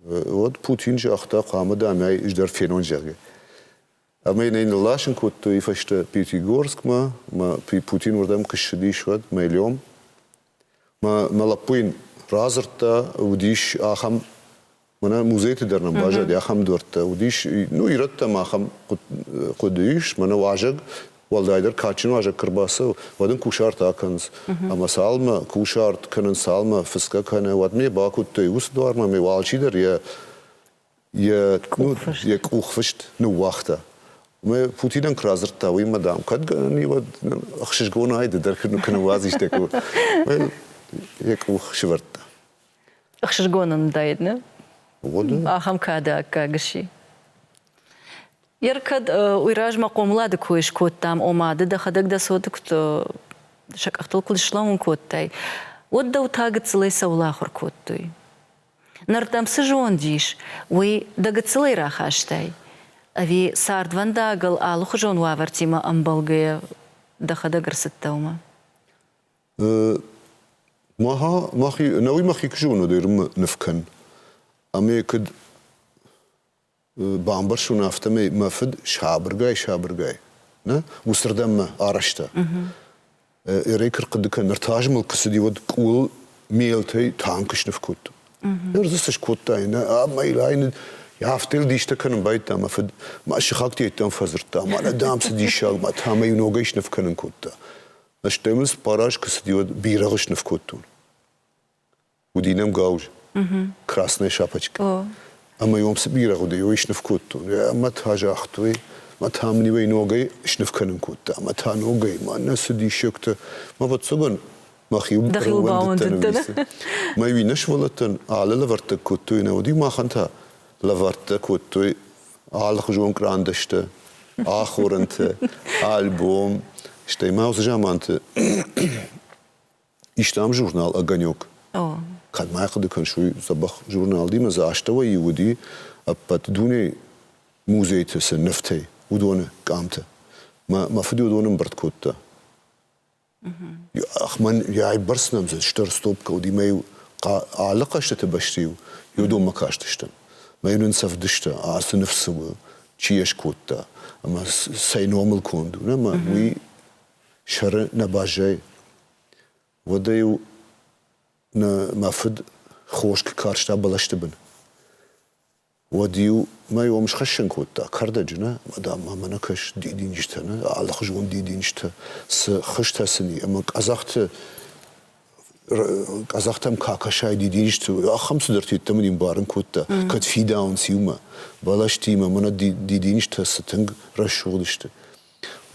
уӕд Путин загъта, хъамыдӕнӕй ӕз дӕр фенон, зӕгъгӕ. Ӕмӕ йын ӕй нырласын кодтой фӕстӕ Пятигорскмӕ, мӕ Путин уырдӕм куы ссыдис, уӕд Мэлем. Мӕ, мӕ лӕппу йын радзырдта, уыдис ахӕм, мӕнӕ музейты дӕр нӕм баззади, ахӕм дуӕрттӕ уыдис, ну, ирӕттӕм ахӕм хъуыды ис, мӕнӕ уазӕг Уӕлдайдӕр кадджын уазӕг куы рбацӕуы, уӕд ын кусарт акӕнынц. Ӕмӕ цалынмӕ кусарт кӕнын, цалынмӕ фыцгӕ кӕны, уӕдмӕ йӕ бакуыдтой. Уыцы дуармӕ ме алчидӕр йӕ йӕ йӕ къухфыст ныууагъта. Мӕ Путинӕн куы радзырдта, уыимӕ, дам, кӕд гӕнӕн и, уӕд ӕхсызгонӕй ды дӕр куы ныууадзис дӕ къух. Йӕ къух сывӕрдта. Ӕхсызгон ын уыдаид, не? Ахӕм кады аккаг сси. Йе ркӕд уый размӕ хъомылады кой скодтам, ома ды дӕхӕдӕг дӕ цоты куыд сӕ къӕхтыл куыд слӕууын кодтай, уӕд дӕу та гыццылӕй сӕулӕхуыр кодтой. Нартӕм цы зонд ис, уый дӕ гыццылӕй рахастай? Ӕви цардвӕндагыл алыхуызон уавӕртимӕ ӕмбӕлгӕйӕ дӕхӕдӕг ӕрцыдтӕ уымӕ? Науи мӕхи куы зонон, ӕрмы ныв кӕн. Ӕмӕ куыд бамбӕрсон, афтӕмӕй мӕ фыд сабыргай-сабыргай нӕ уыцырдӕм арӕзта. Ӕрӕй куы рхъуыды кӕн, ныр та ӕз мыл куы цыди, уӕд къул мелтӕй танкы сныв кодтон. Ныр дзы цы скодта, нӕ ӕмӕ йыл айны Афтӕ йыл дистӕ кӕнын байдта мӕ фыд. Мӕ сыхӕгты йеддӕм фӕдзырдта, мӕнӕ дам цы диссаг, мӕ та мӕ иу ногӕй сныв кӕнын кодта. Стӕй мын цыппар аз куы цыди, уӕд бирӕгъы сныв кодтон. уыди нӕм гауыз, красная шапочка. Ӕмӕ йӕм цы бирӕгъ уыди, йой сныв кодтон. Ӕмӕ та загътой, мӕ та мын иуӕй ногӕй сныв кӕнын кодта. Мӕ та ногӕй, мӕнӕ цы диссӕгтӕ. Мӕ ӕвӕццӕгӕн мӕхиуыл ӕрӕууӕндыдтӕн. Мӕ иу иннӕ сывӕллӕттӕн алы лӕвӕрттӕ кодтой, нӕ уыди, махӕн та лӕвӕрттӕ кодтой алыхуызон кърандӕстӕ, ахорӕнтӕ, альбом. Стӕй ма уыцы заманты Истам журнал «Огонек». О. Кӕд ма хъуыды кӕсой, дзӕбӕх журналдимӕ дзы астӕуӕй иу уыди ӕппӕт дунейы музейты цы нывтӕй, уыдоны къамты. Мӕ, мӕ фыд уыдон ӕмбырд кодта. Ах, мӕн йӕ бӕрц нӕм дзы стыр стопкӕ уыди, мӕ-иу алы хъӕзтыты бӕсты-иу Ёдоммӕ кастыстӕм. Мӕ-иу нын сӕвдыста, ацы ныв цы у, чи йӕ скодта, ӕмӕ цӕй номыл конд у, нӕ, мӕ уый сӕры нӕ баззайы. Уӕдӕ-иу мӕ фыд хос куы карста бӕлӕсты бын. Уӕд-иу мӕ ом схӕссын кодта кӕрдӕджы, нӕ, мадам, ма мӕнӕ кӕс дидинджытӕ, нӕ, алыхуызон дидинджытӕ, цы хызтӕ сын и, ӕмӕ къӕдзӕхты къӕдзӕхтӕм ка кӕсай дидинджыты, ахӕм цыдӕртӕ йеддӕмӕ не мбарын кодта, кӕд фидауынц иумӕ, бӕлӕстимӕ, мӕнӕ дидинджытӕ цы тынг рӕсугъд сты.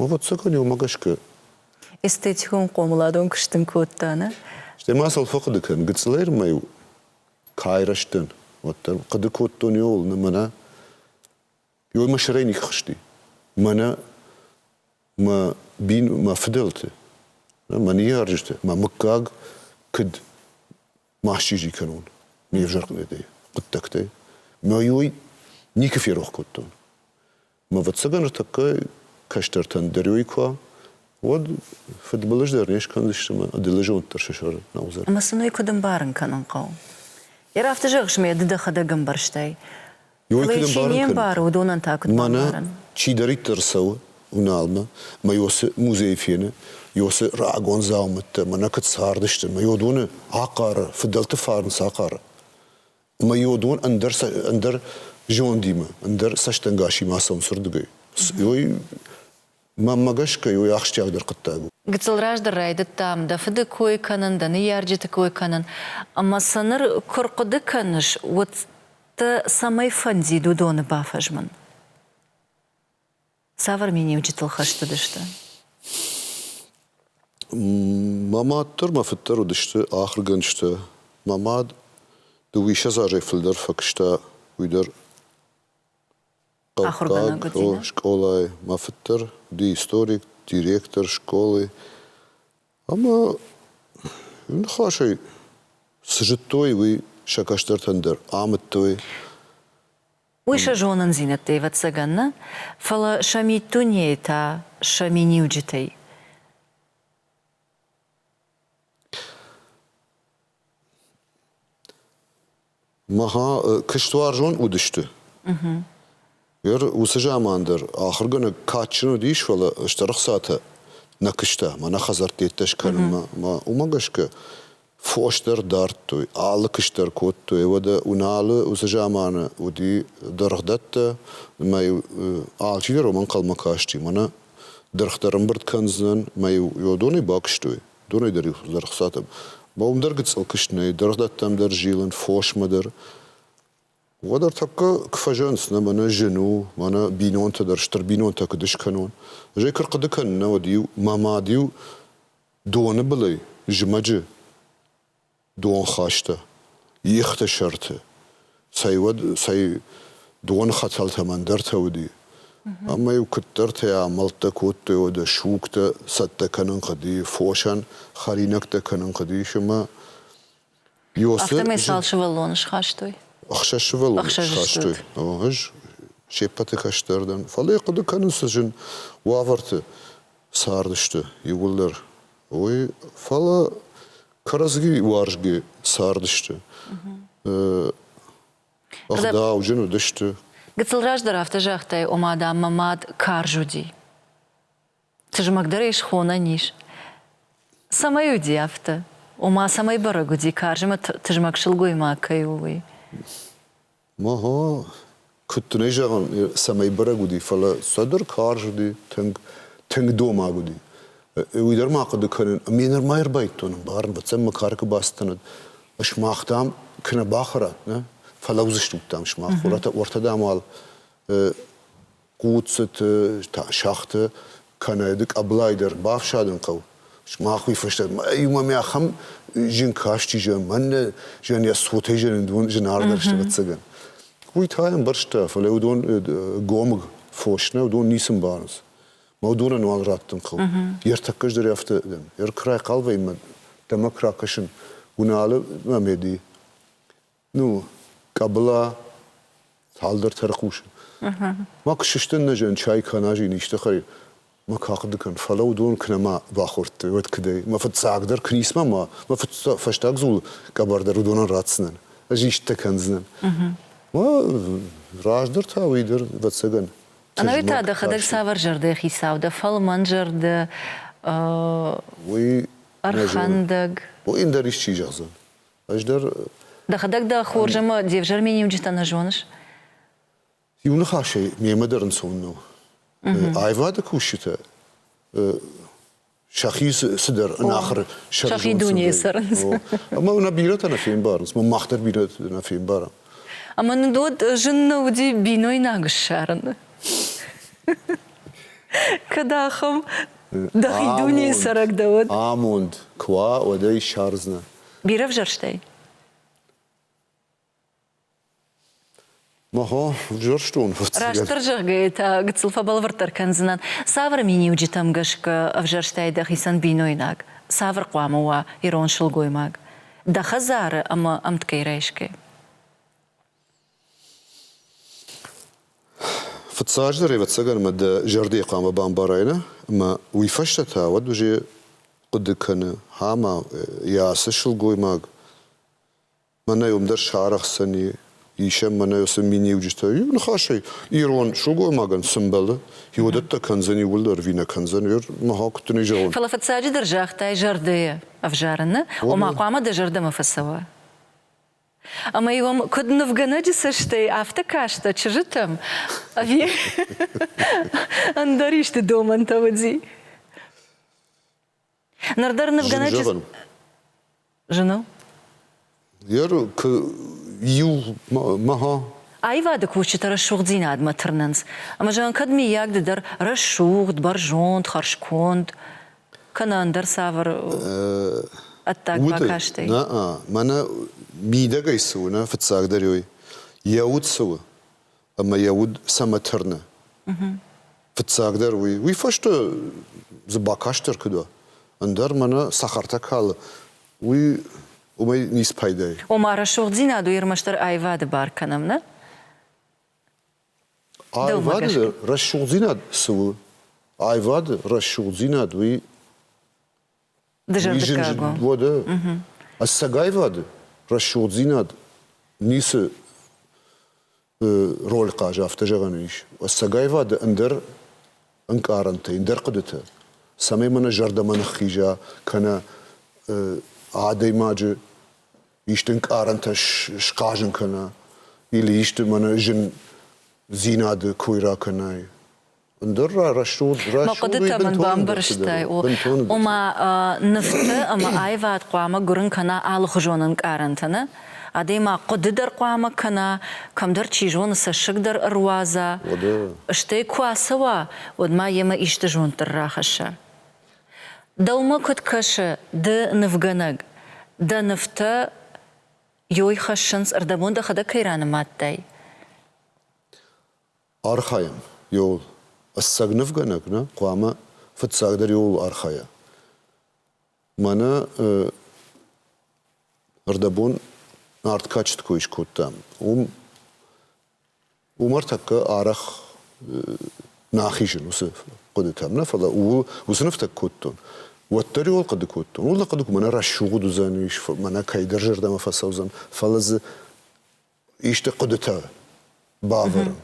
Ӕвӕццӕгӕн, уымӕ гӕсгӕ. Эстетикон-хъомыладон куыст ын кодта, нӕ? Стӕй ма сыл фӕхъуыды кӕн, гыццылӕй ӕрмӕ-иу кӕй рӕзтӕн, уӕддӕр. Хъуыды кодтон, йоу, нӕ мӕнӕ йой мӕ сӕрӕй никуы хызти. Мӕнӕ мӕ бин, мӕ фыдӕлты, мӕ ныййарджыты, мӕ мыггаг куыд ма счъизи кӕнон ме взӕргъдӕй, хъуыддӕгтӕй. Мӕ йой никуы ферох кодтон. Ӕвӕццӕгӕн ӕртӕккӕ кӕстӕртӕн дӕр уый куы уӕд фыдбылыз дӕр не скӕндзысты ӕмӕ ӕдылызонддӕр сӕ сӕр нӕ уыдзӕн. Ӕмӕ сын уый куыд ӕмбарын кӕнын хъӕуы? Йӕ рафты зӕгъыс ме, ды дӕхӕдӕг ӕмбӕрстай. Фӕлӕ йӕ чи не мбары, уыдонӕн та куыд бамбарын? Чидӕриддӕр цӕуы Уналмӕ мӕ Иосы музейы фены, Иосы рагон дзаумӕттӕ мӕнӕ куыд цардысты, мӕ уыдоны ахъары, фыдӕлты фарн цы ахъары, ӕмӕ йодон ӕндӕр ӕндӕр зондимӕ, ӕндӕр цӕстӕнгасимӕ ацӕуын сырдыгӕй. Уый мӕнмӕ гӕсгӕ уый ахсджиагдӕр хъуыддаг у. Гыццыл раздӕр райдыдтам дӕ фыды кой кӕнын, дӕ ныййарджыты кой кӕнын. Ӕмӕ сӕ ныр куы рхъуыды кӕныс, уӕд дӕ цӕмӕй фӕндид уыдоны бафӕзмын? Цавӕр миниуджытыл хӕстыдысты? Мӕ мад дӕр, мӕ фыд дӕр уыдысты ахуыргӕнджытӕ. Мӕ мад дыууиссӕдз азӕй фылдӕр фӕкуыста уый дӕр хъӕуккаг скъолайы. Мӕ фыд дӕр уыди историк, директор скъолы. Ӕмӕ ныхасӕй цы зыдтой, уый сӕ кӕстӕртӕн дӕр амыдтой. Уый сӕ зонындзинӕдтӕй ӕвӕццӕгӕн нӕ, фӕлӕ сӕ миддунейы та, сӕ миниуджытӕй. Махӕ куыстуарзон уыдысты. Гӕр уыцы заман дӕр ахуыргӕнӕг кадджын уыдис, фӕлӕ стыр ӕхцатӕ нӕ куыста, мӕнӕ хӕдзӕрттӕ йеддӕ скӕнынмӕ. Мӕ уымӕ гӕсгӕ фос дӕр дардтой, алы куыст дӕр кодтой. Уӕдӕ Уналы уыцы заманы уыди дыргъдӕттӕ, ӕмӕ-иу алчидӕр уым ӕнхъӕлмӕ касти, мӕнӕ дыргъ дӕр ӕмбырд кӕндзынӕн, ӕмӕ-иу йӕ донӕй бакуыстой. Донӕй дӕр-иу дӕр хсатӕм. Бон дӕр гыццыл куыст нӕй, дыргъдӕттӕм дӕр зилын, фосмӕ дӕр. Уӕд ӕртӕккӕ куы фӕзӕнц, нӕ мӕнӕ зын у, мӕнӕ бинонтӕ дӕр, стыр бинонтӕ куыд скӕнон. Зӕй куы рхъуыды кӕнын, нӕ уӕд-иу мӕ мад-иу Доны былӕй зымӕджы дон хаста ихты сӕрты, цӕй уӕд, цӕй доны хӕтӕлтӕм ӕндӕртӕ уыди. Ӕмӕ-иу куыддӕртӕ амӕлттӕ кодтой, уӕдӕ сугтӕ цӕттӕ кӕнын хъуыди, фосӕн хӕринӕгтӕ кӕнын хъуыдис ӕмӕ Афтӕмӕй цал сывӕллоны схастой? Ӕхсӕз сывӕллоны схастой. Ӕз се ппӕты кӕстӕрдӕн. Фӕлӕ йӕ хъуыды кӕнын, цы зын уавӕрты цардысты иууылдӕр, уый. Фӕлӕ кӕрӕдзи уарзгӕ цардысты. Ӕгъдауджын уыдысты. Гыццыл раздӕр афтӕ загътай, ома, дам, мӕ мад карз уыди. Тызмӕгдӕрӕй схонӕн ис. Цӕмӕй уыди афтӕ, ома цӕмӕй бӕрӕг уыди, карз ӕмӕ тызмӕг сылгоймаг кӕй у, уый. Ма-га, куыд дын ӕй зӕгъын, цӕмӕй бӕрӕг уыди, фӕлӕ цӕдӕр карз уыди, тынг, тынг домаг уыди. Уый дӕр ма хъуыды кӕнын, ме нырма ӕрбайдтон ӕмбарын, бацӕм мӕ кары куы бацыдтӕнӕд, сымах, дам, куынӕ бахӕрат, нӕ? Фӕлӕудзыстут, дам, сымах, уӕртӕ дам уал хъуццыты, сӕгъты кӕнӕ ды къӕбылайы дӕр бафсадын хъӕуы. Сымах уый фӕстӕ иумӕ мӕ ахӕм зын каст чи зӕгъы, мӕнӕ зӕн йӕ цотӕй зӕн зынаргъдӕр сӕвӕццӕгӕн. Уый та ӕмбӕрста, фӕлӕ уыдон гомыг фос нӕ, уыдон ницы мбарынц. Мӕ уыдонӕн уал раттын хъӕуы. Йе ртӕккӕ ӕз дӕр афтӕ дӕн. Йе ркрай хъалвӕймӕ дӕ мӕ куы ракӕсын, уыналы мӕ меди. Ну, къӕбыла цалдӕр тӕрхъусы. Ма куы сыстын нӕ зӕн чай кӕна зин исты хай, ма кахъды кӕн, фӕлӕ уыдон куы нӕма бахордтой, уӕд куыдӕй? Мӕ фыццагдӕр куы ницма ма, мӕ фӕстаг дзул къӕбӕрдӕр уыдонӕн ратдзынӕн, ӕз истытӕ кӕндзынӕн. Ма раздӕр та уый дӕр, ӕвӕццӕгӕн. Ӕнӕуи та дӕхӕдӕг цавӕр зӕрдӕйы хицау дӕ, фӕлмӕн зӕрдӕ? Уый. Ӕрхӕндӕг. Уый ӕндӕр исчи зӕгъдзӕн? Ӕз дӕр... Дӕхӕдӕг дӕ хорз ӕмӕ де взӕрме ниуджытӕ нӕ зоныс? Иу ныхасӕй, мемӕ дӕр ӕнцон нӕу. Аивады кусджытӕ сӕхи цыдӕр ӕнахуыр сӕрызонд Сӕхи дунейы цӕрынц. Ӕмӕ нӕ бирӕтӕ нӕ фембарынц. Мах дӕр бирӕтӕ нӕ фембарӕм. Ӕмӕ нын уӕд зын нӕ уыди бинойнаг ссарыны? Кӕд ахӕм дӕхи дунейы цӕрӕг дӕ, уӕд? Амонд куы уа, уӕд ӕй ссардзынӕ. Бирӕ взӕрстӕй? Ага, взӕрстон фыццагӕн. Растдӕр зӕгъгӕйӕ та гыццыл фӕбӕлвырддӕр кӕндзынӕн, цавӕр миниуджытӕм гӕсгӕ ӕвзӕрстӕй дӕхицӕн бинойнаг цавӕр хъуамӕ уа ирон сылгоймаг дӕ хӕдзары ӕмӕ ӕмткӕй райсгӕ? Фыццараздӕр ӕвӕццӕгӕн ӕмӕ дӕ зӕрдӕйы хъуамӕ бамбарай нӕ ӕмӕ уый фӕстӕ та уӕд уызе хъуыды кӕны, гьама йӕ ацы сылгоймаг мӕнӕй уым дӕр сарӕхдзӕни, исӕн мӕнӕй уыцы миниуджытӕ. Иу ныхасӕй, ирон сылгоймагӕн цы мбӕлы, иуӕдӕттӕ кӕндзӕни, уый дӕр ӕви нӕ кӕндзӕни, мӕгьау куыд дын ӕй зӕгъон? Фӕлӕ фыццаджыдӕр загътай зӕрдӕйы ӕвзарыны, ома хъуамӕ дӕ зӕрдӕмӕ фӕцӕуа. Ӕмӕ уым куыд нывгӕнӕджы цӕстӕй, афтӕ кастӕ чызджытӕм. Ӕви ӕндӕр исты домӕнтӕ уыди? Ныр дӕр нывгӕнӕджы Жена? иу мӕ Аивады кусджытӕ рӕсугъддзинадмӕ тырнынц, ӕмӕ зӕгъын, кӕд, миййаг, ды дӕр рӕсугъд, бӕрзонд, хӕрзконд, кӕнӕ ӕндӕр цавӕр ӕддаг бакастӕй? Нӕ, мӕнӕ мидӕгӕй цы у, нӕ фыццагдӕр уый, йӕ уд цы у ӕмӕ йӕ уд цӕмӕ тырны. Фыццагдӕр уый, уый фӕстӕ дзы бакастдӕр куыд уа, ӕндӕр мӕнӕ цӕхӕртӕ калы, уый уымӕй ницы пайда и. Ома, рӕсугъддзинад у ӕрмӕстдӕр аивады бар кӕнӕм, нӕ? Аивады рӕсугъддзинад цы у? Аивады рӕсугъддзинад уый дызӕрдыггаг у. Уӕдӕ ӕцӕг аивады рӕсугъддзинад ницы роль хъазы афтӕ зӕгъӕн ис. Ӕцӕг аивады ӕндӕр ӕнкъарӕнтӕ, ӕндӕр хъуыдытӕ, цӕмӕй мӕнӕ зӕрдӕмӕ ныххиза кӕнӕ адӕймаджы исты ӕнкъарӕнтӕ схъазын кӕна, или исты мӕнӕ зындзинады кой ракӕнай. Ӕндӕр рӕсугъд рӕсугъд хъуыдытӕ мын бамбӕрстай, ома нывты ӕмӕ аивад хъуамӕ гуырын кӕна алыхуызон ӕнкъарӕнтӕ нӕ адӕймаг хъуыды дӕр хъуамӕ кӕна, кӕмдӕр чи зоны цӕссыг дӕр ӕруадза, стӕй куы ацӕуа, уӕд ма йемӕ исты зонд дӕр рахӕсса. Дӕумӕ куыд кӕсы, ды нывгӕнӕг, дӕ нывтӕ йой хӕссынц, ӕрдӕбон дӕхӕдӕг кӕй ранымадтай? Архайӕм. Иууыл ӕцӕг нывгӕнӕг нӕ хъуамӕ фыццагдӕр иууыл архайа. Мӕнӕ ӕрдӕбон арт качет кой скодтам. Уым Уымӕ ртӕккӕ арӕх нӕ ахизын уыцы хъуыдытӕм нӕ, фӕлӕ ууыл уыцы нывтӕ кодтон. Уӕддӕр ууыл хъуыды кодтон. Ууыл хъуыды кодтон, мӕнӕ рӕсугъд уыдзӕн ис, мӕнӕ кӕйдӕр зӕрдӕмӕ фӕцӕудзӕн. Фӕлӕ дзы исты хъуыдытӕ бавӕрын,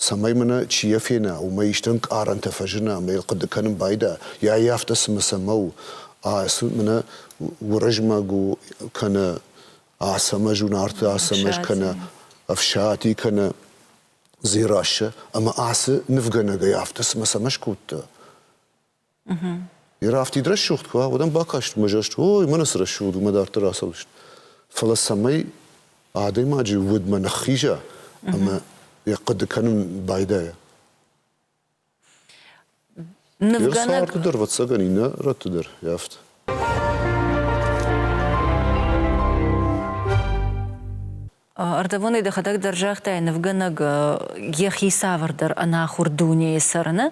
цӕмӕй мӕнӕ чи йӕ фена, уымӕй исты ӕнкъарӕнтӕ фӕзына ӕмӕ йыл хъуыды кӕнын байда, йа йӕ афтӕ цымӕ цӕмӕ у, а мӕнӕ Уырызмӕг у кӕнӕ Ацӕмӕз у Нарты Ацӕмӕз кӕнӕ Ӕфсати кӕнӕ Дзерассӕ, ӕмӕ ацы нывгӕнӕгӕй афтӕ цымӕ цӕмӕ скодта? Йӕ рафтид рӕсугъд куы уа, уӕд ӕм бакаст мӕзӕст, ой, мӕнӕ цы рӕсугъд у, мӕ дарддӕр ацӕудзыст. Фӕлӕ цӕмӕй адӕймаджы удмӕ ныххиза ӕмӕ йӕ хъуыды кӕнын байдайа? Нывгӕнӕг дӕр, ӕвӕццӕгӕн, иннӕ рӕтты дӕр йафт. Ӕрдӕбонӕй дӕхӕдӕг дӕр загътай, нывгӕнӕг йӕхи цавӕрдӕр ӕнахуыр дунейы цӕрыны,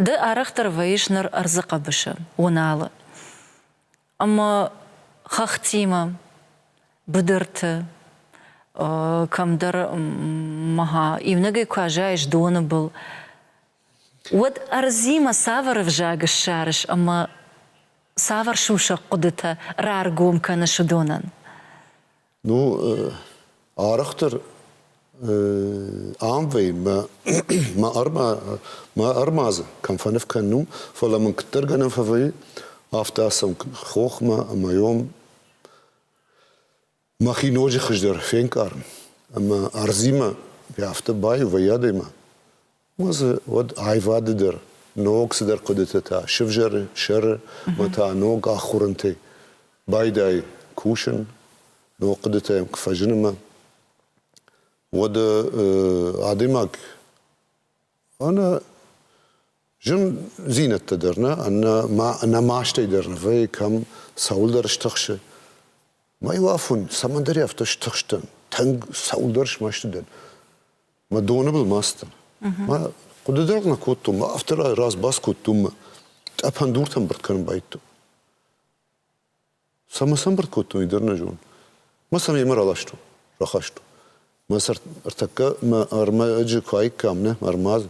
ды арӕхдӕр вӕййыс ныр ӕрдзы хъӕбысы, Уыналы. ӕмӕ хӕхтимӕ быдырты кӕмдӕр иунӕгӕй куы азайыс доны был, уӕд ӕрдзимӕ цавӕр ӕвзаг ссарыс ӕмӕ цавӕр сусӕг хъуыдытӕ раргом кӕныс уыдонӕн? Ну, арӕхдӕр ам вӕййы мӕ мӕ ӕрма мӕ ӕрмадзы кӕм фӕныв кӕнын у, фӕлӕ мын куыддӕр гӕнӕн фӕвӕййы, афтӕ ацӕуын хохмӕ ӕмӕ ём мӕхи ноджы хуыздӕр фенкъарын ӕмӕ ӕрдзимӕ афтӕ баиу вӕййы адӕймаг. Уӕ дзы уӕд аивады дӕр, ног цыдӕр хъуыдытӕ та сывзӕры, сӕры ӕмӕ та ног ахуырынтӕй байдайы кусын, ног хъуыдытӕ йӕм куы фӕзынымӕ, уӕд адӕймаг ӕнӕ зындзинӕдтӕ дӕр нӕ, ӕнӕ мастӕй дӕр нӕ вӕййы, кӕм цӕуылдӕр стыхсы. Ма-иу афон, цӕмӕндӕр афтӕ стыхстӕн, тынг цӕуылдӕр смӕсты дӕн. Мӕ доны был ма сдӕн. Мӕ хъуыды дӕр нӕ кодтон, мӕ афтӕ раз бац кодтон мӕ тъӕпӕн дуртӕн бырд кӕнын байдтон. Цӕмӕ сӕм бырд кодтон, уый дӕр нӕ зон. Мӕ сӕм йемӕ раластон, рахастон. Мӕ сӕр ӕртӕккӕ мӕ ӕрмӕджы куы аиккам, нӕ, ӕрмадзы.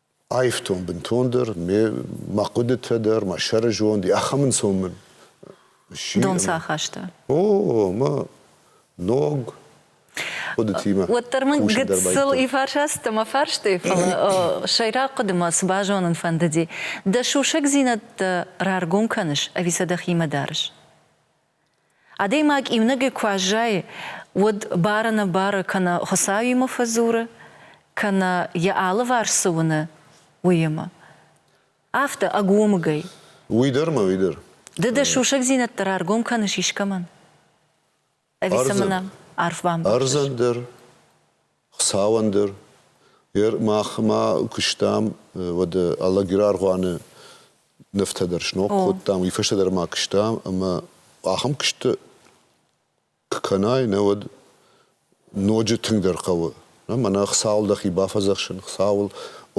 Аивтон бынтондӕр мӕ хъуыдытӕ дӕр, мӕ сӕрызонд, ахӕм ӕнцон мын сси. Дон цы ахаста? О, мӕ ног хъуыдытимӕ. Уӕддӕр мын гыццыл ифарсасты мӕ фарстой, фӕлӕ сӕйраг хъуыдымӕ цы базонын фӕндыди, дӕ сусӕгдзинӕдтӕ раргом кӕныс ӕви сӕ дӕхимӕ дарыс? Адӕймаг иунӕгӕй куы аззайы, уӕд бары-нӕбары кӕнӕ Хуыцауимӕ фӕдзуры, кӕнӕ йӕ алыварс цы уыны, уыимӕ. Афтӕ ӕгомыгӕй. Уый дӕр ма уый дӕр. Ды дӕ сусӕгдзинӕдтӕ раргом кӕныс искӕмӕн? Ӕви сӕ мын арф бамбӕрзыс? Ӕрдзӕн дӕр. Хуыцауӕн дӕр. Мах ма куыстам уӕды Алагираргъуаны нывтӕ дӕр сног кодтам. Уый фӕстӕ дӕр ма куыстам ӕмӕ ахӕм куысты куы кӕнай, нӕ уӕд ноджы тынгдӕр хъӕуы. Мӕнӕ Хуыцауыл дӕхи бафӕдзӕхсын, Хуыцауыл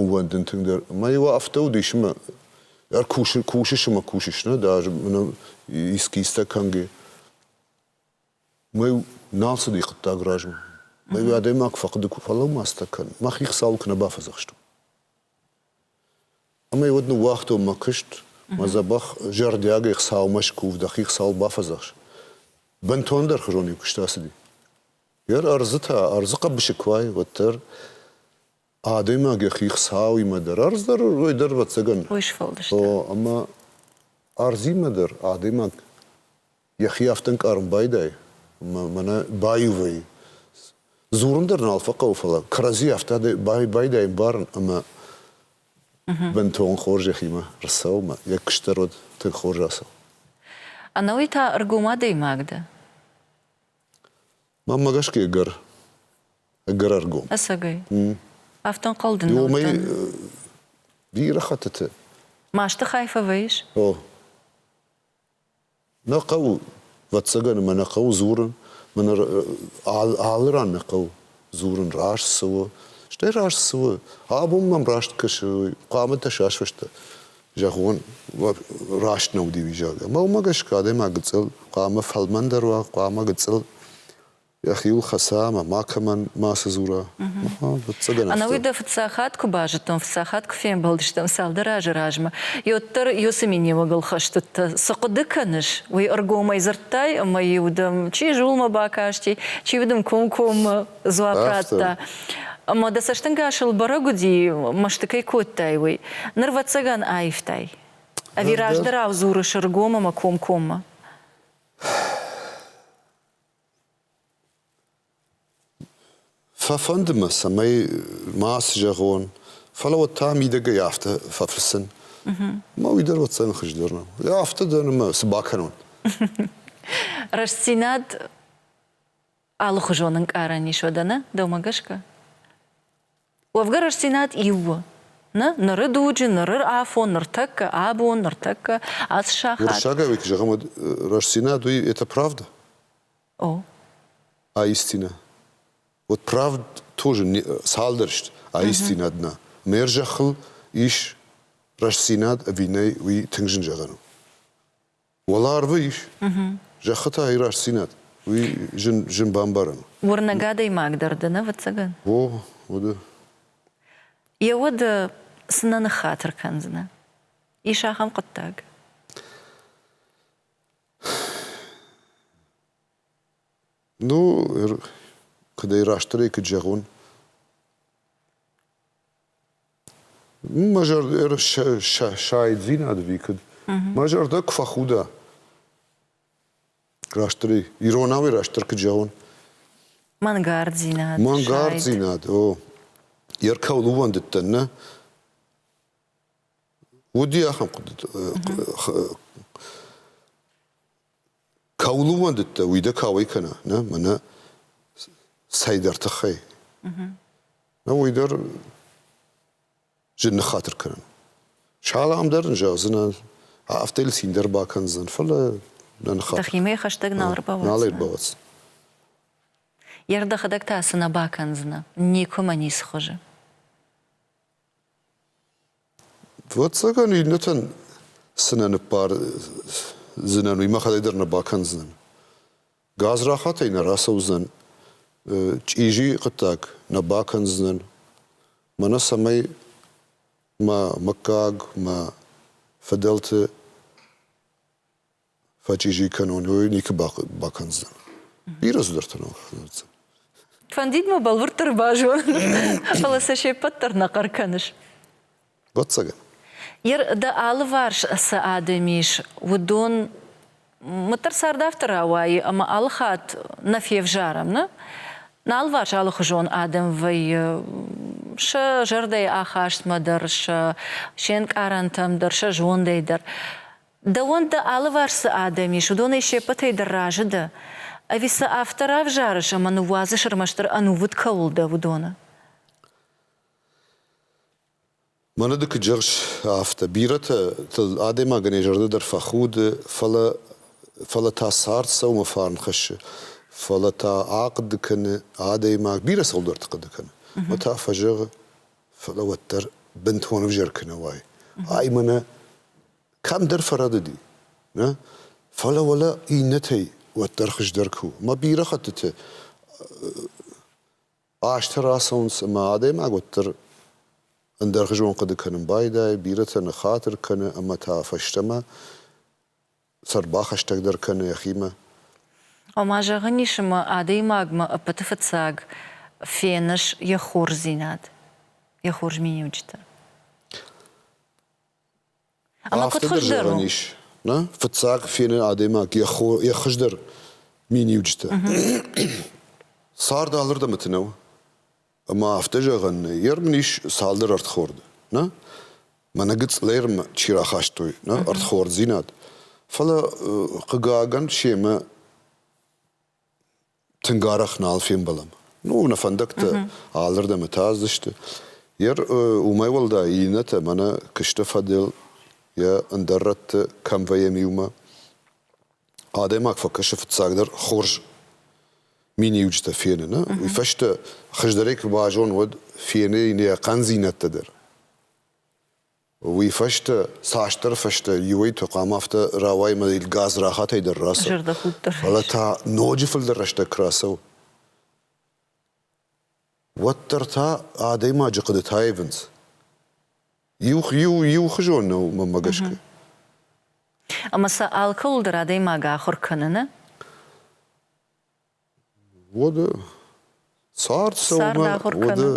ӕууӕндын тынгдӕр. Ӕмӕ иу афтӕ уыд, ис ӕмӕ кусыс ӕмӕ кусыс, нӕ? Ды ӕз искӕйстӕ кӕнгӕ. Уымӕй нал цыди хъуыддаг размӕ. Ӕви адӕймаг фӕхъуыды куы фӕлӕмӕцтӕ кӕн, мӕхи хицауыл куы нӕ бафӕдзӕхстон. Ӕмӕ уӕд ныууагътон мӕ куыст, мӕ дзӕбӕх зӕрдиагӕй Хуыцаумӕ скув, дӕхи Хуыцауыл бафӕдзӕхс. Бынтондӕр хызонӕй куыст ацыди. Йӕ ӕрдзы та, ӕрдзы хъӕбысы куы уай, уӕддӕр адӕймаг йӕхи Хуыцауимӕ дӕр, ӕрдз дӕр уый дӕр ӕвӕццӕгӕн. Ой сфӕлдыста. О, ӕмӕ ӕрдзимӕ дӕр адӕймаг Йӕхи афтӕ ӕнкъарын байдайы, ӕмӕ мӕнӕ баиу вӕййы. Дзурын дӕр нал фӕхъӕуы, фӕлӕ кӕрӕдзи афтӕ байдайын барын ӕмӕ бынтон хорз йӕхимӕ рцӕуынмӕ. Йӕ куыстдӕр уыд тынг хорз ацӕуын. Ӕнӕуый та ӕргом адӕймаг дӕ? Мӕнмӕ гӕсгӕ ӕгӕр, ӕгӕр ӕргом. Ӕцӕгӕй? Афтӕ ӕнхъӕл дын нӕ уыдтӕн. Бирӕ хӕттыты. Масты хай фӕвӕййыс? О. Нӕ хъӕуы, ӕвӕццӕгӕн, ӕмӕ нӕ хъӕуы дзурын, мӕнӕ алы ран нӕ хъӕуы дзурын, раст цы у. Стӕй раст цы у, абон мӕм раст кӕсы, хъуамӕ дӕ сасвӕстӕ зӕгъон, раст нӕ удивизаг. Ӕмӕ уымӕ гӕсгӕ адӕймаг гыццыл хъуамӕ фӕлмӕндӕр уа, хъуамӕ гыццыл йӕхиуыл хӕца ӕмӕ макӕмӕн мацы дзура. Ӕнӕуый дӕ фыццаг хатт куы базыдтон, фыццаг хатт куы фембӕлдыстӕм цалдӕр азы размӕ, уӕддӕр уыцы миниуӕгыл хӕстыдтӕ. Цы хъуыды кӕныс? уый ӕргомӕй дзырдтай ӕмӕ-иу дӕм чи зулмӕ бакасти, чи-иу дын комкоммӕ дзуапп радта. Ӕмӕ дӕ цӕстӕнгасыл бӕрӕг уыди, мӕсты кӕй кодтай, уый. Ныр ӕвӕццӕгӕн аивтай. Ӕви раздӕрау дзурыс ӕргом ӕмӕ комкоммӕ? Фӕфӕнды мӕ, цӕмӕй ма цы зӕгъон, фӕлӕ уӕд та мидӕгӕй афтӕ фӕфыссын. Ӕмӕ уый дӕр уӕддзӕн хуыздӕр нӕу. Йӕ афтӕ дӕр ӕмӕ цы бакӕнон? Рӕстдзинад алыхуызон ӕнкъарӕн ис уӕдӕ, нӕ? Дӕумӕ гӕсгӕ? Уӕвгӕ рӕстдзинад иу у. Нӕ ныры дуджы, ныры афон, ныртӕккӕ абон, ныртӕккӕ ацы сахат. Уырыссагӕй ведь зӕгъӕм, рӕстдзинад у это правда? О. Аистина. Вот правд тоже цалдӕр сты аистинадмӕ. Мӕ зӕххыл ис рӕстдзинад ӕви нӕй, уый тынг зын зӕгъӕн у. Уӕларвы ис, зӕххы та и рӕстдзинад. Уый зын, зын бамбарӕн. Уырнӕг адӕймаг дӕр дын, ӕвӕццӕгӕн? О, уыды. Йӕ уд цынӕ ныххатыр кӕндзынӕ? Ис ахӕм хъуыддаг? Ну, куыд ӕй растдӕрӕй куыд зӕгъон? Мӕ зӕрдӕ сайдзинад ӕви куыд? Мӕ зӕрдӕ куы фӕхуда, растдӕр, иронау растдӕр куыд зӕгъон? Мӕнгарддзинад. Мӕнгарддзинад, о. Йе ркӕуыл ууӕндыдтӕн, нӕ? Уыди ахӕм хъуыдыты Кӕуыл ууӕндыдтӕ, уый дӕ кауӕй кӕна, нӕ? Мӕнӕ цӕйдӕр тыххӕй. Нӕ уый дӕр зын ныххатыр кӕнын. Салам дӕр ын зӕгъдзынӕн, афтӕ йыл цин дӕр бакӕндзӕн, фӕлӕ нӕ ныххатыр. Дӕхимӕ хӕстӕг нал ӕрбауадздзынӕ? Нал ӕрбауадздзӕн. Йӕ рдӕхӕдӕг та цы нӕ бакӕндзынӕ? Никуы мӕ ницы хуызы. Ӕвӕццӕгӕн, иннӕтӕн цынӕ ныппардзынӕн, уый мӕхӕдӕг дӕр нӕ бакӕндзынӕн. Газ рахатӕй нӕ рацӕудзӕн, чъизи хъуыддаг нӕ бакӕндзынӕн. Мӕнӕ цӕмӕй мӕ мыггаг, мӕ фыдӕлты фӕчъизи кӕнон, уой никуы бакӕндзӕн. Бирӕ цыдӕртӕ ныл фӕдӕтдзӕн. Фӕндид мӕ бӕлвырддӕр базон, фӕлӕ сӕ се ппӕт дӕр нӕ хъӕр кӕныс. Вӕццӕгӕн. Дӕ алыварс цы адӕм ис, уыдон мыддӕр цард афтӕ рауайы, ӕмӕ алыхатт нӕ февзарӕм, нӕ? Алыварс алыхуызон адӕм вӕййы, сӕ зӕрдӕйы ахастмӕ дӕр, сӕ се нкъарӕнтӕм дӕр, сӕ зондӕй дӕр. Дӕуӕн дӕ алыварс цы адӕм ис, уыдонӕй се ппӕтӕй дӕр разы дӕ? Ӕви сӕ афтӕ равзарыс ӕмӕ ныууадзыс ӕрмӕстдӕр ӕнувыд кӕуыл дӕ, уыдоны? Мӕнӕ ды куы джерс, афтӕ. Бирӕтӕ адӕймагӕнӕй зӕрдӕ дӕр фӕхуды, фӕлӕ фӕлӕ та цард сӕумӕ фарн хӕссы, фӕлӕ та ахъуыды кӕны адӕймаг, бирӕ цӕуылдӕрты хъуыды кӕны, уӕд та фӕзӕгъы, фӕлӕ уӕддӕр бынтон ӕвзӕр куы нӕ уай, ай мӕнӕ кӕмдӕр фӕрӕдыди, нӕ? Фӕлӕ уӕлӕ иннӕтӕй уӕддӕр хуыздӕр куы у. Ӕмӕ бирӕ хӕттыты азтӕ рацӕуынц ӕмӕ адӕймаг уӕддӕр ӕндӕрхуызон хъуыды кӕнын байдайы, бирӕтӕ ныххатыр кӕны ӕмӕ та фӕстӕмӕ сӕрбахӕстӕгдӕр кӕны йӕхимӕ. Ома, зӕгъӕн ис ӕмӕ адӕймагмӕ ӕппӕты фыццаг феныс йӕ хорздзинад, йӕ хорз миниуджытӕ. Ӕмӕ куыд хуыздӕр у? Ис, нӕ? Фыццаг фены адӕймаг йӕ хо, йӕ хуыздӕр миниуджытӕ. Цард алырдӕм нӕу. Ӕмӕ афтӕ зӕгъӕн нӕй. Йе рмын ис цалдӕр ӕрдхорды, нӕ? Мӕнӕ гыцълермӕ чи рахастой, нӕ? Ӕрдхорддзинад. Фӕлӕ, хъыгагӕн, семӕ тынг арӕх нал фембӕлӕм. Ну, нӕ фӕндӕгтӕ алырдӕм атаздзысты. Йер уымӕй уӕлдай иннӕтӕ мӕнӕ куысты фӕдыл йӕ ӕндӕр рӕтты кӕм вӕййӕм иумӕ. Адӕймаг фӕкӕсы фыццагдӕр хорз миниуджытӕ феныны. Уый фӕстӕ хуыздӕрӕй куы базон, уӕд фены йын йӕ хъӕндзинӕдтӕ дӕр. Уый фӕстӕ цасдӕр фӕстӕ иуӕй тыхъам афтӕ рауайы мӕ газ рахатӕй дӕр рацӕуы. Зӕрдӕхудт дӕр. Фӕлӕ та ноджы фылдӕр рӕстӕг куы рацӕуы, уӕддӕр та адӕймаджы хъуыдытӕ ивынц. Иу, иу, иухуызон нӕу мӕнмӕ гӕсгӕ. Ӕмӕ сӕ алкӕуыл дӕр адӕймаг ахуыр кӕныны Уӕды цард цӕуынмӕ уӕды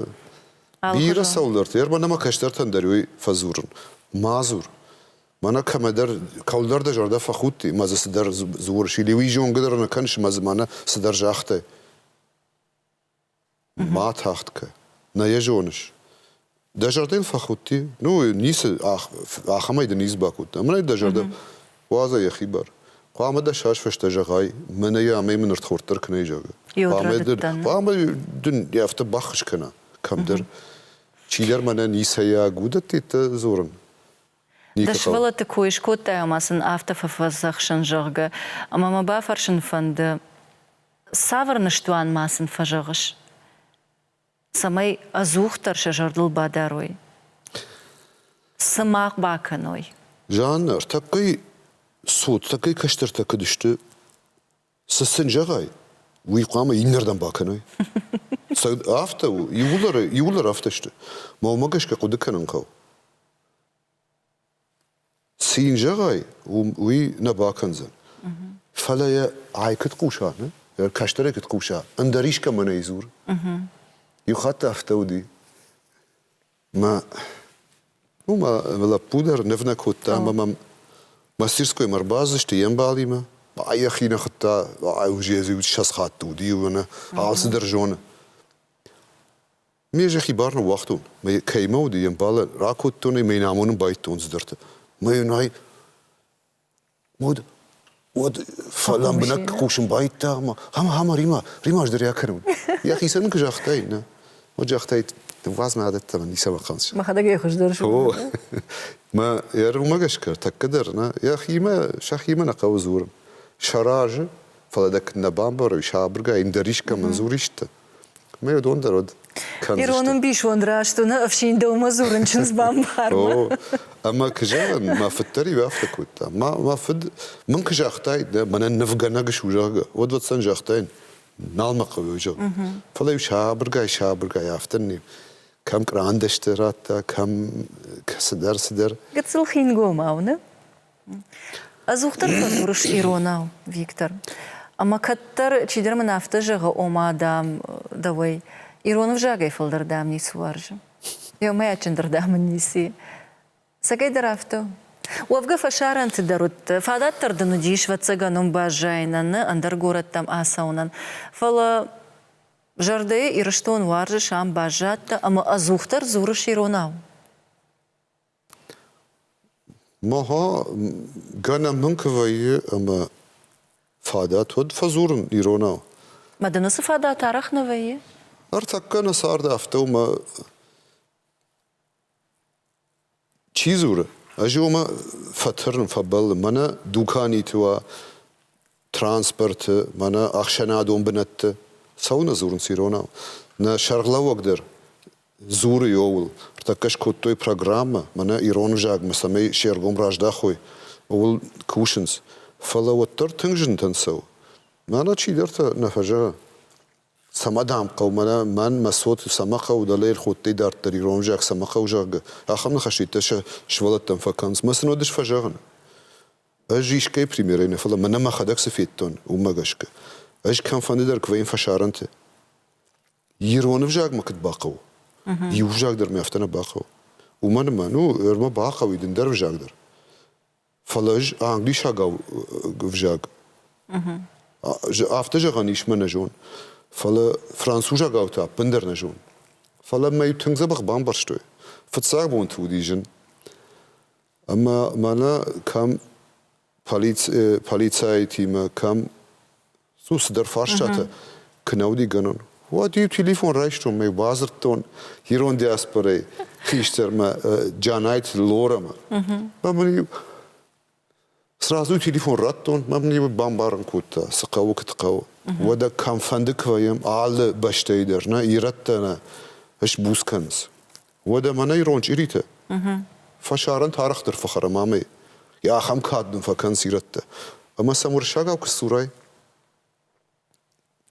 бирӕ цӕуылдӕрты ӕрмӕн ӕмӕ кӕстӕртӕн дӕр уый фӕдзурын. Ма дзур. Мӕнӕ кӕмӕдӕр, кӕуылдӕр дӕ зӕрдӕ фӕхудти, ӕмӕ дзы цыдӕр дзурыс, или уый зонгӕ дӕр нӕ кӕныс, ӕмӕ мӕнӕ цыдӕр загътай. Ма тагъд кӕ. Нӕ йӕ зоныс? Дӕ зӕрдӕ йын фӕхудти? Ну, ницы, ахӕмӕй дын ницы бакодта. Амынӕй дӕ зӕрдӕ уадза йӕхи бар. Хъуамӕ дӕсас фӕстӕ зӕгъай, мӕнӕ йӕ амӕй мын ӕрдхорддӕр кӕнай, зӕгъгӕ. Хъуамӕ дын, хъуамӕ дын йӕ афтӕ баххуыс кӕна кӕмдӕр. Чидӕр мӕнӕ ницӕйаг уыдӕттӕ дзурын. Ды сывӕллӕтты кой скодтай ӕмӕ сын афтӕ фӕфӕдзӕхсын, зӕгъгӕ, ӕмӕ мӕ бафӕрсын фӕнды, цавӕр ныстуан ма сын фӕзӕгъыс, цӕмӕй ӕдзухдӕр сӕ зӕрдыл бадарой, цы мах бакӕной? Жаннӕ, ртӕппӕй цот тӕккӕ кӕстӕртӕ куыд сты? Цы сын зӕгъай, уый хъуамӕ иннӕрдӕм бакӕной. Афтӕ у, иууылдӕр, иууылдӕр афтӕ сты. Мӕнмӕ гӕсгӕ хъуыды кӕнын хъӕуы. Цы йын зӕгъай, уый нӕ бакӕндзӕн. Фӕлӕ йӕ ай куыд хъуса, нӕ? Кӕстӕрӕй куыд хъуса, ӕндӕр искӕмӕн ӕй дзур. Иу хатт афтӕ уыди. Мӕ уымӕ лӕппу дӕр ныв нӕ кодта ӕмӕ мӕм мастерскоймӕ ӕрбацыдысты йе мбалимӕ. Йӕхи нӕ хуыдта, už йӕ ссӕдз хатты уыди, иу ӕнӕ алцыдӕр зоны. Ме зӕххи бар ныууагътон, мӕ кӕимӕ уыди, йе мбалӕн ракодтон ӕмӕ йын амонын байдтон цыдӕртӕ. Мӕ йын ай Уӕд, уӕд лӕмбынӕг хъусын байдта ӕмӕ ӕмӕ ӕмӕ Рима, Рима ӕз дӕр йӕ кӕрон. Йӕхицӕн нын куы загътай, нӕ? Уӕд загътай, дыввӕдзмӕ адӕттӕмӕ ницӕмӕ хъаныс. Мӕхӕдӕг ӕй хуыздӕр зонын. Мӕ йӕ румӕ гӕсгӕ тӕккӕ дӕр нӕ йӕхимӕ сӕхимӕ нӕ хъӕуы дзурын. Сӕ разы, фӕлӕ дӕ куыд нӕ бамбарой, сабыргай йын дӕр искӕмӕн дзурис ты? Мӕ уыдон дӕр уыд. Ирон ӕмбисонд раст уыны ӕфсин дӕумӕ дзурын чындз бамбармӕ. Ӕмӕ куы зӕгъын, мӕ фыд дӕр иу афтӕ кодта. Мӕ фыд мын куы загътаид, дӕ мӕнӕн нывгӕнӕг су, зӕгъгӕ, уӕд уӕддӕн загътаин, нал мӕ хъӕуы зӕгъын. Фӕлӕ-иу сабыргай-сабыргай афтӕ не кӕм кърандӕсты радта, кӕм цыдӕр-цыдӕр. Гыццыл хингомау, нӕ? Ӕдзухдӕр фӕдзурыс иронау, Виктор. Ӕмӕ кӕддӕр, чидӕр мын афтӕ зӕгъы, ома, дам, дӕуӕй ирон ӕвзагӕй фылдӕр дӕм ницы уарзы. Еумӕйадджындырдӕм ын ници. Цӕгӕй дӕр афтӕ у. Уӕвгӕ фӕсарӕнты дӕр уыдтӕ. Фадатдӕр дын уыдис, ӕвӕццӕгӕн, уым баззайынӕн нӕ ӕндӕр горӕттӕм ацӕуынӕн. Фӕлӕ зӕрдӕйы Ирыстон уарзы, сӕм баззадтӕ ӕмӕ ӕдзухдӕр дзурыс иронау. Мӕгъа гӕнӕн мын куы вӕййы ӕмӕ фадат уӕд фӕдзурын иронау. Мӕ дын уыцы фадат арӕх нӕ вӕййы? Ӕртӕккӕ нӕ цард афтӕ у, мӕ чи дзуры, ӕз омӕ фӕтырын, фӕбӕллын, мӕнӕ дуканиты уа, транспорты, мӕнӕ ӕхсӕнадон бынӕтты цӕуылнӕ дзурынц иронау? Нӕ сӕргълӕууӕг дӕр дзуры ууыл. Ӕртӕккӕ скодтой программӕ, мӕнӕ ирон ӕвзагмӕ, цӕмӕй се ргом раздахой, ууыл кусынц. Фӕлӕ уӕддӕр тынг зынтӕн цӕуы. Мӕнӕ чидӕртӕ нӕ фӕзӕгъы, цӕмӕ дӕм хъӕуы, мӕнӕ мӕн мӕ цот цӕмӕ хъӕуы, дӕлӕ ӕрходтай дарддӕр ирон ӕвзаг цӕмӕ хъӕуы, зӕгъгӕ. Ахӕм ныхӕстӕ сӕ сывӕллӕттӕм фӕкӕнынц. Мӕ сын уӕд ис фӕзӕгъын. Ӕз искӕй примерӕй нӕ, фӕлӕ мӕнӕ мӕхӕдӕг цы федтон, уымӕ гӕсгӕ. ӕз кӕмфӕнды дӕр куы вӕййын фӕсарӕнты, ирон ӕвзагмӕ куыд бахъӕуы, иу ӕвзаг дӕр мӕ афтӕ нӕ бахъӕуы. Уымӕн ӕмӕ, ну, ӕрмӕ бахъӕуы дындӕр ӕвзаг дӕр. Фӕлӕ ӕз англисагау ӕвзаг афтӕ зӕгъӕн ис мӕ нӕ зон, фӕлӕ французагау та ӕппындӕр нӕ зон. Фӕлӕ мӕ тынг дзӕбӕх бамбӕрстой. Фыццаг бонты уыди зын. ӕма мӕнӕ кӕм полицӕйтимӕ, кӕм цу цыдӕр фарстатӕ куы нӕ уыдигӕнон, уӕд иу телефон райстон, мӕ бадзырдтон ирон диаспорӕйы хистӕрмӕ Джанайты Лорӕмӕ. Ӕмӕ мын иу Сразу телефон радтон, мӕм йӕ бамбарын кодта, цы хъӕуы, куыд хъӕуы. Уӕдӕ кӕмфӕнды куы вӕййӕм алы бӕстӕйы дӕр, нӕ ирӕттӕ нӕ сбуц кӕнынц. Уӕдӕ мӕнӕ ирон чъиритӕ фӕсарӕн арӕхдӕр фӕхӕрам амӕй. Йӕ ахӕм кад нын фӕкӕнынц ирӕттӕ. Ӕмӕ сӕм уырыссагау куы сдзурай,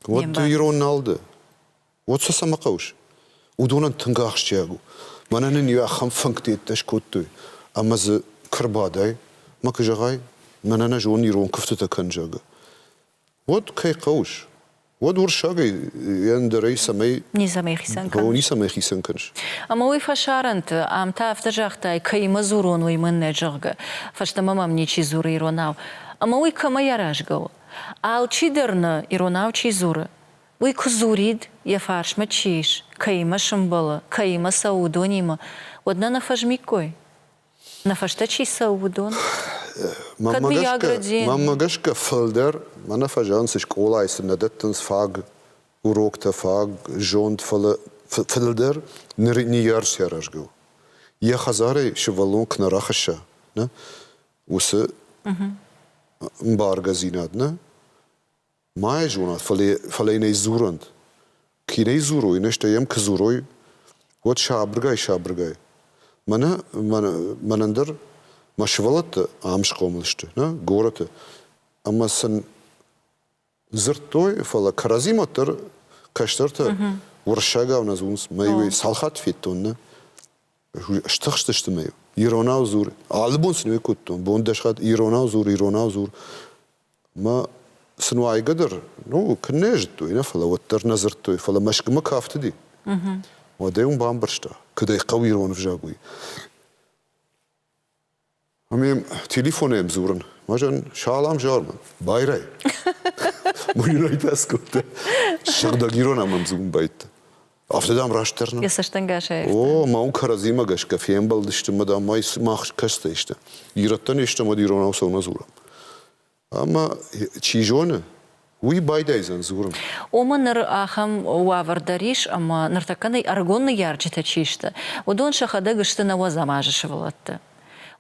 Уӕд ирон нал ды. Уӕд сӕ цӕмӕ хъӕуыс? Уыдонӕн тынг ахсджиаг у. Мӕнӕ нын иу ахӕм фӕнгты йеддӕ скодтой, ӕмӕ дзы куы рбадай, ма куы зӕгъай, мӕнӕ нӕ зон ирон куывдтытӕ кӕн, зӕгъы. Уӕд кӕй хъӕуыс? Уӕд уырыссагӕй йӕ ӕндӕрӕй цӕмӕй. Ницӕмӕй хицӕн кӕныс. О, ницӕмӕй хицӕн кӕныс. Ӕмӕ уый фӕсарӕнты, ам та афтӕ загътай, кӕимӕ дзурон, уый мын нӕ, зӕгъгӕ. Фӕстӕмӕ мӕм ничи дзуры иронау. Ӕмӕ уый кӕмӕй аразгӕ у? Алчи дӕр нӕ иронау чи дзуры, уый куы дзурид, йӕ фарсмӕ чи ис, кӕимӕ сымбӕлы, кӕимӕ цӕуы, уыдонимӕ, уӕд нӕ нӕ фӕзмиккой? Нӕ фӕстӕ чи цӕуы, уыдон? Кӕд Виаградзе. Мӕнмӕ гӕсгӕ фылдӕр мӕнӕ фӕзӕгъынц, скъолайы сын нӕ дӕттынц фаг уроктӕ, фаг зонд, фӕлӕ фылдӕр ныр не рсӕрӕзгӕ у. Йӕ хӕдзарӕй сывӕллон куы нӕ рахӕсса, нӕ уыцы мбаргӕдзинад нӕ ма йӕ зонат, фӕлӕ йын ӕй дзурӕнт. Кӕй нӕ дзурой, нӕ стӕй йӕм куы дзурой, уӕд сабыргай-сабыргай. Мӕнӕ, мӕнӕн дӕр мӕ сывӕллӕттӕ ам схъомыл сты, нӕ горӕты, ӕмӕ сын Дзырдтой, фӕлӕ кӕрӕдзимӕ дӕр кӕстӕртӕ уырыссагау нӕ зонынц. Мӕ иу цал хатт федтон, нӕ стыхстысты мӕ иронау дзур. Алы бон сын уӕй кодтон, бон дӕс хатт иронау дзур, иронау дзур. Мӕ сын уайгӕ дӕр, ну, куыннӕ зыдтой, нӕ, фӕлӕ уӕддӕр нӕ дзырдтой, фӕлӕ Мӕскуымӕ кафтыди. Уӕдӕй уым бамбӕрста, куыд ӕй хъӕуы ирон ӕвзаг уый. Ӕмӕ йӕм телефонӕй дзурын. Мӕ зӕн, салам, Зарман, байрай. Мӕ йын ӕй пӕс кодта. Сыгъдӕг ирон ӕм ӕмдзугун байдта. Афтӕ, дам, растдӕр нӕ. Йӕ цӕстӕнгасӕй. О, мӕ уын кӕрӕдзимӕ гӕсгӕ фембӕлдысты, мӕ дам, мӕ мах кӕстӕй сты. Ирӕттӕн естӕмӕ иронау сӕумӕ дзурӕм. Ӕмӕ, чи зоны, уый байдайдзӕн дзурын. Ома ныр ахӕм уавӕр дӕр ис, ӕмӕ ныртӕккӕ нӕ ӕрыгон ныййарджытӕ чи сты, уыдон сӕхӕдӕг сты нӕ Уӕзамазы сывӕллӕтты.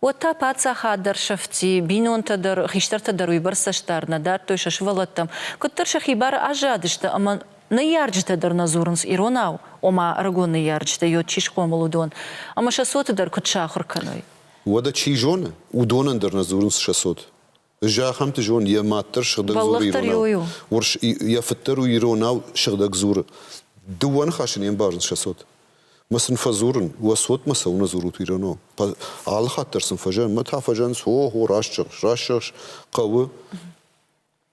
Уӕд та паддзахад дӕр сӕфти, бинонтӕ дӕр, хистӕртӕ дӕр уыйбӕрц цӕстдард нӕ дӕттой сӕ сывӕллӕттӕм, куыддӕр сӕхи бары аззадысты ӕмӕ ныййарджытӕ дӕр нӕ дзурынц иронау, ома ӕрыгон ныййарджытӕ йод чи схъомыл, уыдон ӕмӕ сӕ цоты дӕр куыд сахуыр кӕной. Уӕдӕ, чи зоны, уыдонӕн дӕр нӕ дзурынц сӕ цот, Зӕххӕмты зонд йӕ маддӕр сыгъдӕг дзоры иронау. Урс йӕ фыддӕр у иронау, сыгъдӕг дзуры. Дыууӕ ныхасы не мбарынц сӕ цот. Мӕ сын фӕдзурын, уӕ цотмӕ цӕуынӕ дзурут иронау? Алы хатт дӕр сын фӕзӕн, мӕ та фӕзӕнынц, о, о, раст зӕгъыс, раст зӕгъыс, хъӕуы.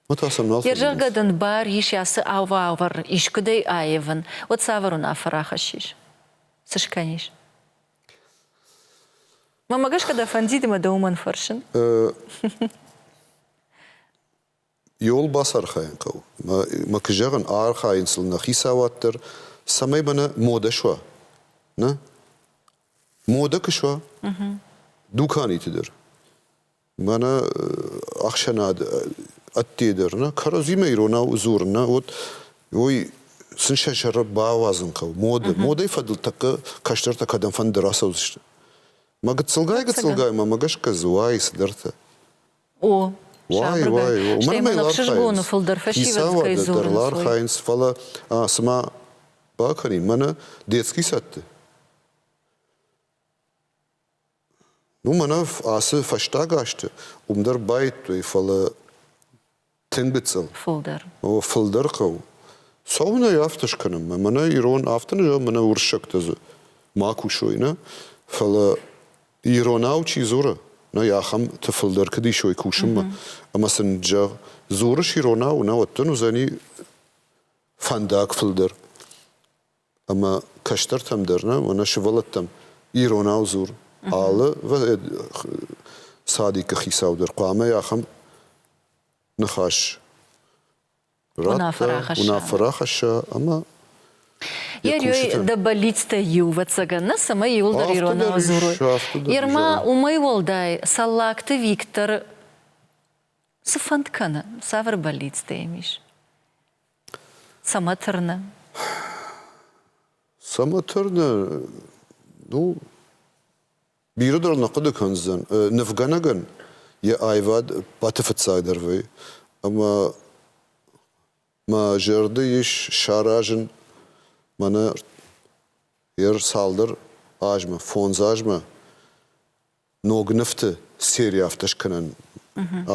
Мӕ та сӕм нал Йе рзӕгъгӕ дын бар ис ацы уавӕр искуыдӕй аивын, уӕд цавӕр уынаффӕ рахӕссис? Цы скӕнис? Мӕмӕ гӕсгӕ дӕ фӕндид ӕмӕ дӕ уымӕн фӕрсын? Иууыл бацархайын хъӕуы. Мӕ куы зӕгъын, архайын сыл нӕ хицауад дӕр, цӕмӕй мӕнӕ модӕ суа. Нӕ? Модӕ куы суа, дуканиты дӕр. мӕнӕ ӕхсӕнад ӕдде дӕр нӕ кӕрӕдзимӕ иронау дзурын нӕ уӕд уой сын сӕ сӕры бауадзын хъӕуы моды модӕй фӕдыл тӕккӕ кӕстӕртӕ кӕдӕм фӕнды рацӕудзысты мӕ гыццылгай гыццылгаймӕ мӕ гӕсгӕ дзы уайы цыдӕртӕ о уай уай ӕхсызгоны фылдӕр фӕсивӕд кӕй дӕр ла архайынц фӕлӕ цыма бакӕнин мӕнӕ детский садты Уымӕн ацы фӕстаг азты уым дӕр баидтой, фӕлӕ тынг гыццыл. Фылдӕр. О, фылдӕр хъӕу. Цӕуын ӕй афтӕ скӕнынмӕ. Мӕнӕ ирон, афтӕ нӕ зӕгъ, мӕнӕ уырыссӕгтӕ дзы ма кусой, нӕ? Фӕлӕ иронау чи дзуры, нӕй ахӕмты фылдӕр куыд исой кусынмӕ. Ӕмӕ сын зӕгъ, дзурыс иронау, науӕд дын уыдзӕни фӕндаг фылдӕр. ӕмӕ кӕстӕртӕм дӕр нӕ, мӕнӕ сывӕллӕттӕм иронау дзур. Алы садикы хицау дӕр хъуамӕ ахӕм ныхас радта, уынаффӕ рахӕсса ӕмӕ Йӕ рёй дӕ бӕллицтӕй иу, ӕвӕццӕгӕн, нӕ, цӕмӕй иуылдӕр иронау дзурой. Ермӕ уымӕй уӕлдай Цӕллагты Виктор цы фӕнд кӕны, цавӕр бӕллицтӕ йӕм ис? Цӕмӕ тырны? Цӕмӕ тырны? Ну, бирӕ дӕр нӕ хъуыды кӕндзӕн. Нывгӕнӕгӕн йӕ аивад баты фыццагдӕр вӕййы. Ӕмӕ мӕ зӕрды ис саразын мӕнӕ йӕ цалдӕр азмӕ, фондз азмӕ ног нывты сери афтӕ скӕнӕн,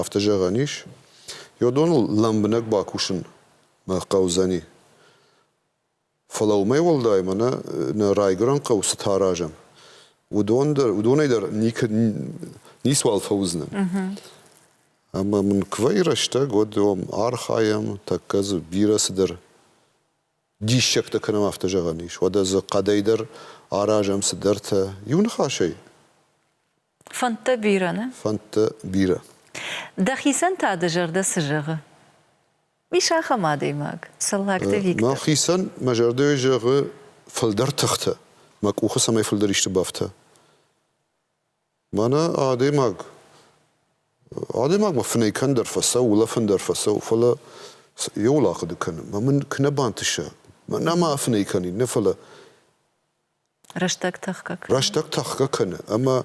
афтӕ зӕгъӕн ис. Йодоныл лӕмбынӕг бакусын мӕ хъӕудзӕни. Фӕлӕ уымӕй уӕлдай ма нӕ нӕ райгуырӕн хъӕу цытӕ аразӕм, уыдон дӕр, уыдонӕй дӕр никӕд ницуал фӕуыдзынӕ. Ӕмӕ мын куы вӕййы рӕстӕг, уӕд уым архайӕм, тӕккӕ дзы бирӕ цыдӕр диссӕгтӕ кӕнӕм афтӕ зӕгъӕн ис, уӕдӕ дзы хъӕдӕй дӕр аразӕм цыдӕртӕ. Иу ныхасӕй. Фӕндтӕ бирӕ, нӕ? Фӕндтӕ бирӕ. Дӕхицӕн та дӕ зӕрдӕ цы зӕгъы? Ис ахӕм адӕймаг, Цӕллагты Виктор. Мӕхицӕн мӕ зӕрдӕйы зӕгъы фылдӕр тыхтӕ, мӕ къухы цӕмӕй фылдӕр исты бафта. Мӕнӕ адӕймаг, адӕймагмӕ фынӕй кӕндӕр фӕцӕуы, улӕфын дӕр фӕцӕуы, фӕлӕ йӕ уыл ахъуыды кӕны, мӕ мын куы нӕ бантыса, мӕнӕ ма афынӕй кӕнин, нӕ фӕлӕ Рӕстӕг тӕхгӕ кӕны. Рӕстӕг тӕхгӕ кӕны, ӕмӕ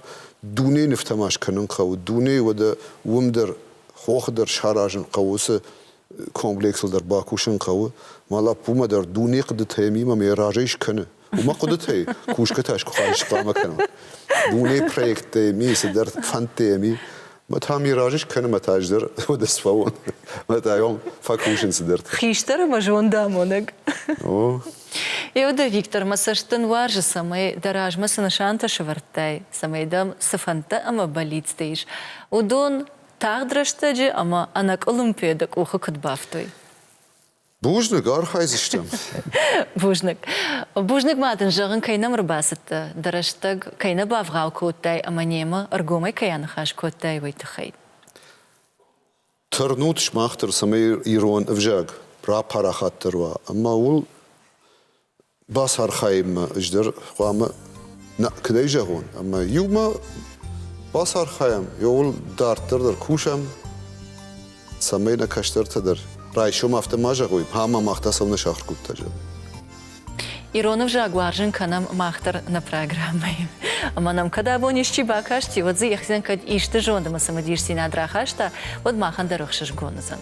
дунейы нывтӕ ма скӕнын хъӕуы. Дунейы уӕдӕ уым дӕр, хохы дӕр саразын хъӕуы уыцы комплексыл дӕр бакусын хъӕуы, мӕ лӕппумӕ дӕр дуне хъуыдытӕмимӕ мӕ разӕй скӕны. Уымӕ хъуыдытӕй кусгӕтӕ схуыхай схъуамӕ кӕнӕм. Дунейы проекттӕми, цыдӕр фӕндтӕми мӕ та ми разы скӕнӕм, мӕ та ӕз дӕр уӕдӕ сфӕуон. Мӕ та йӕм фӕкусын цыдӕртӕ. Хистӕр ӕмӕ зондамонӕг. О. Еуда Виктор, мӕ цӕст дын уарзы, цӕмӕй дӕ размӕ цы нысантӕ сывӕрдтай, цӕмӕй дӕм цы фӕндтӕ ӕмӕ бӕллицтӕ ис, уыдон Тагъд рӕстӕджы ӕмӕ ӕнӕкъуылымпыйӕ дӕ къухы куыд бафтой? Бузныг, архайдзыстӕм. Бузныг. Бузныг ма дын зӕгъын, кӕй нӕм ӕрбацыдтӕ, дӕ рӕстӕг кӕй нӕ бавгъау кодтай ӕмӕ немӕ ӕргомӕй кӕй аныхас кодтай, уый тыххӕй. Тырнут сымах дӕр, цӕмӕй ирон ӕвзаг рапарахатдӕр уа ӕмӕ уыл Бацархайынмӕ ӕз дӕр хъуамӕ куыд ӕй зӕгъон, ӕмӕ иумӕ бацархайӕм, ууыл дарддӕр дӕр кусӕм, цӕмӕй нӕ кӕстӕртӕ дӕр райсом афтӕ ма зӕгъой, ама мах та цӕмӕ сахуыр кодта, зӕгъ. Ирон ӕвзаг уарзын кӕнӕм мах дӕр нӕ программӕйы. Ӕмӕ нӕм кӕд абон исчи бакасти, уӕд дзы йӕхицӕн кӕд исты зонд ӕмӕ цымыдисдзинад рахаста, уӕд махӕн дӕр ӕхсызгон уыдзӕн.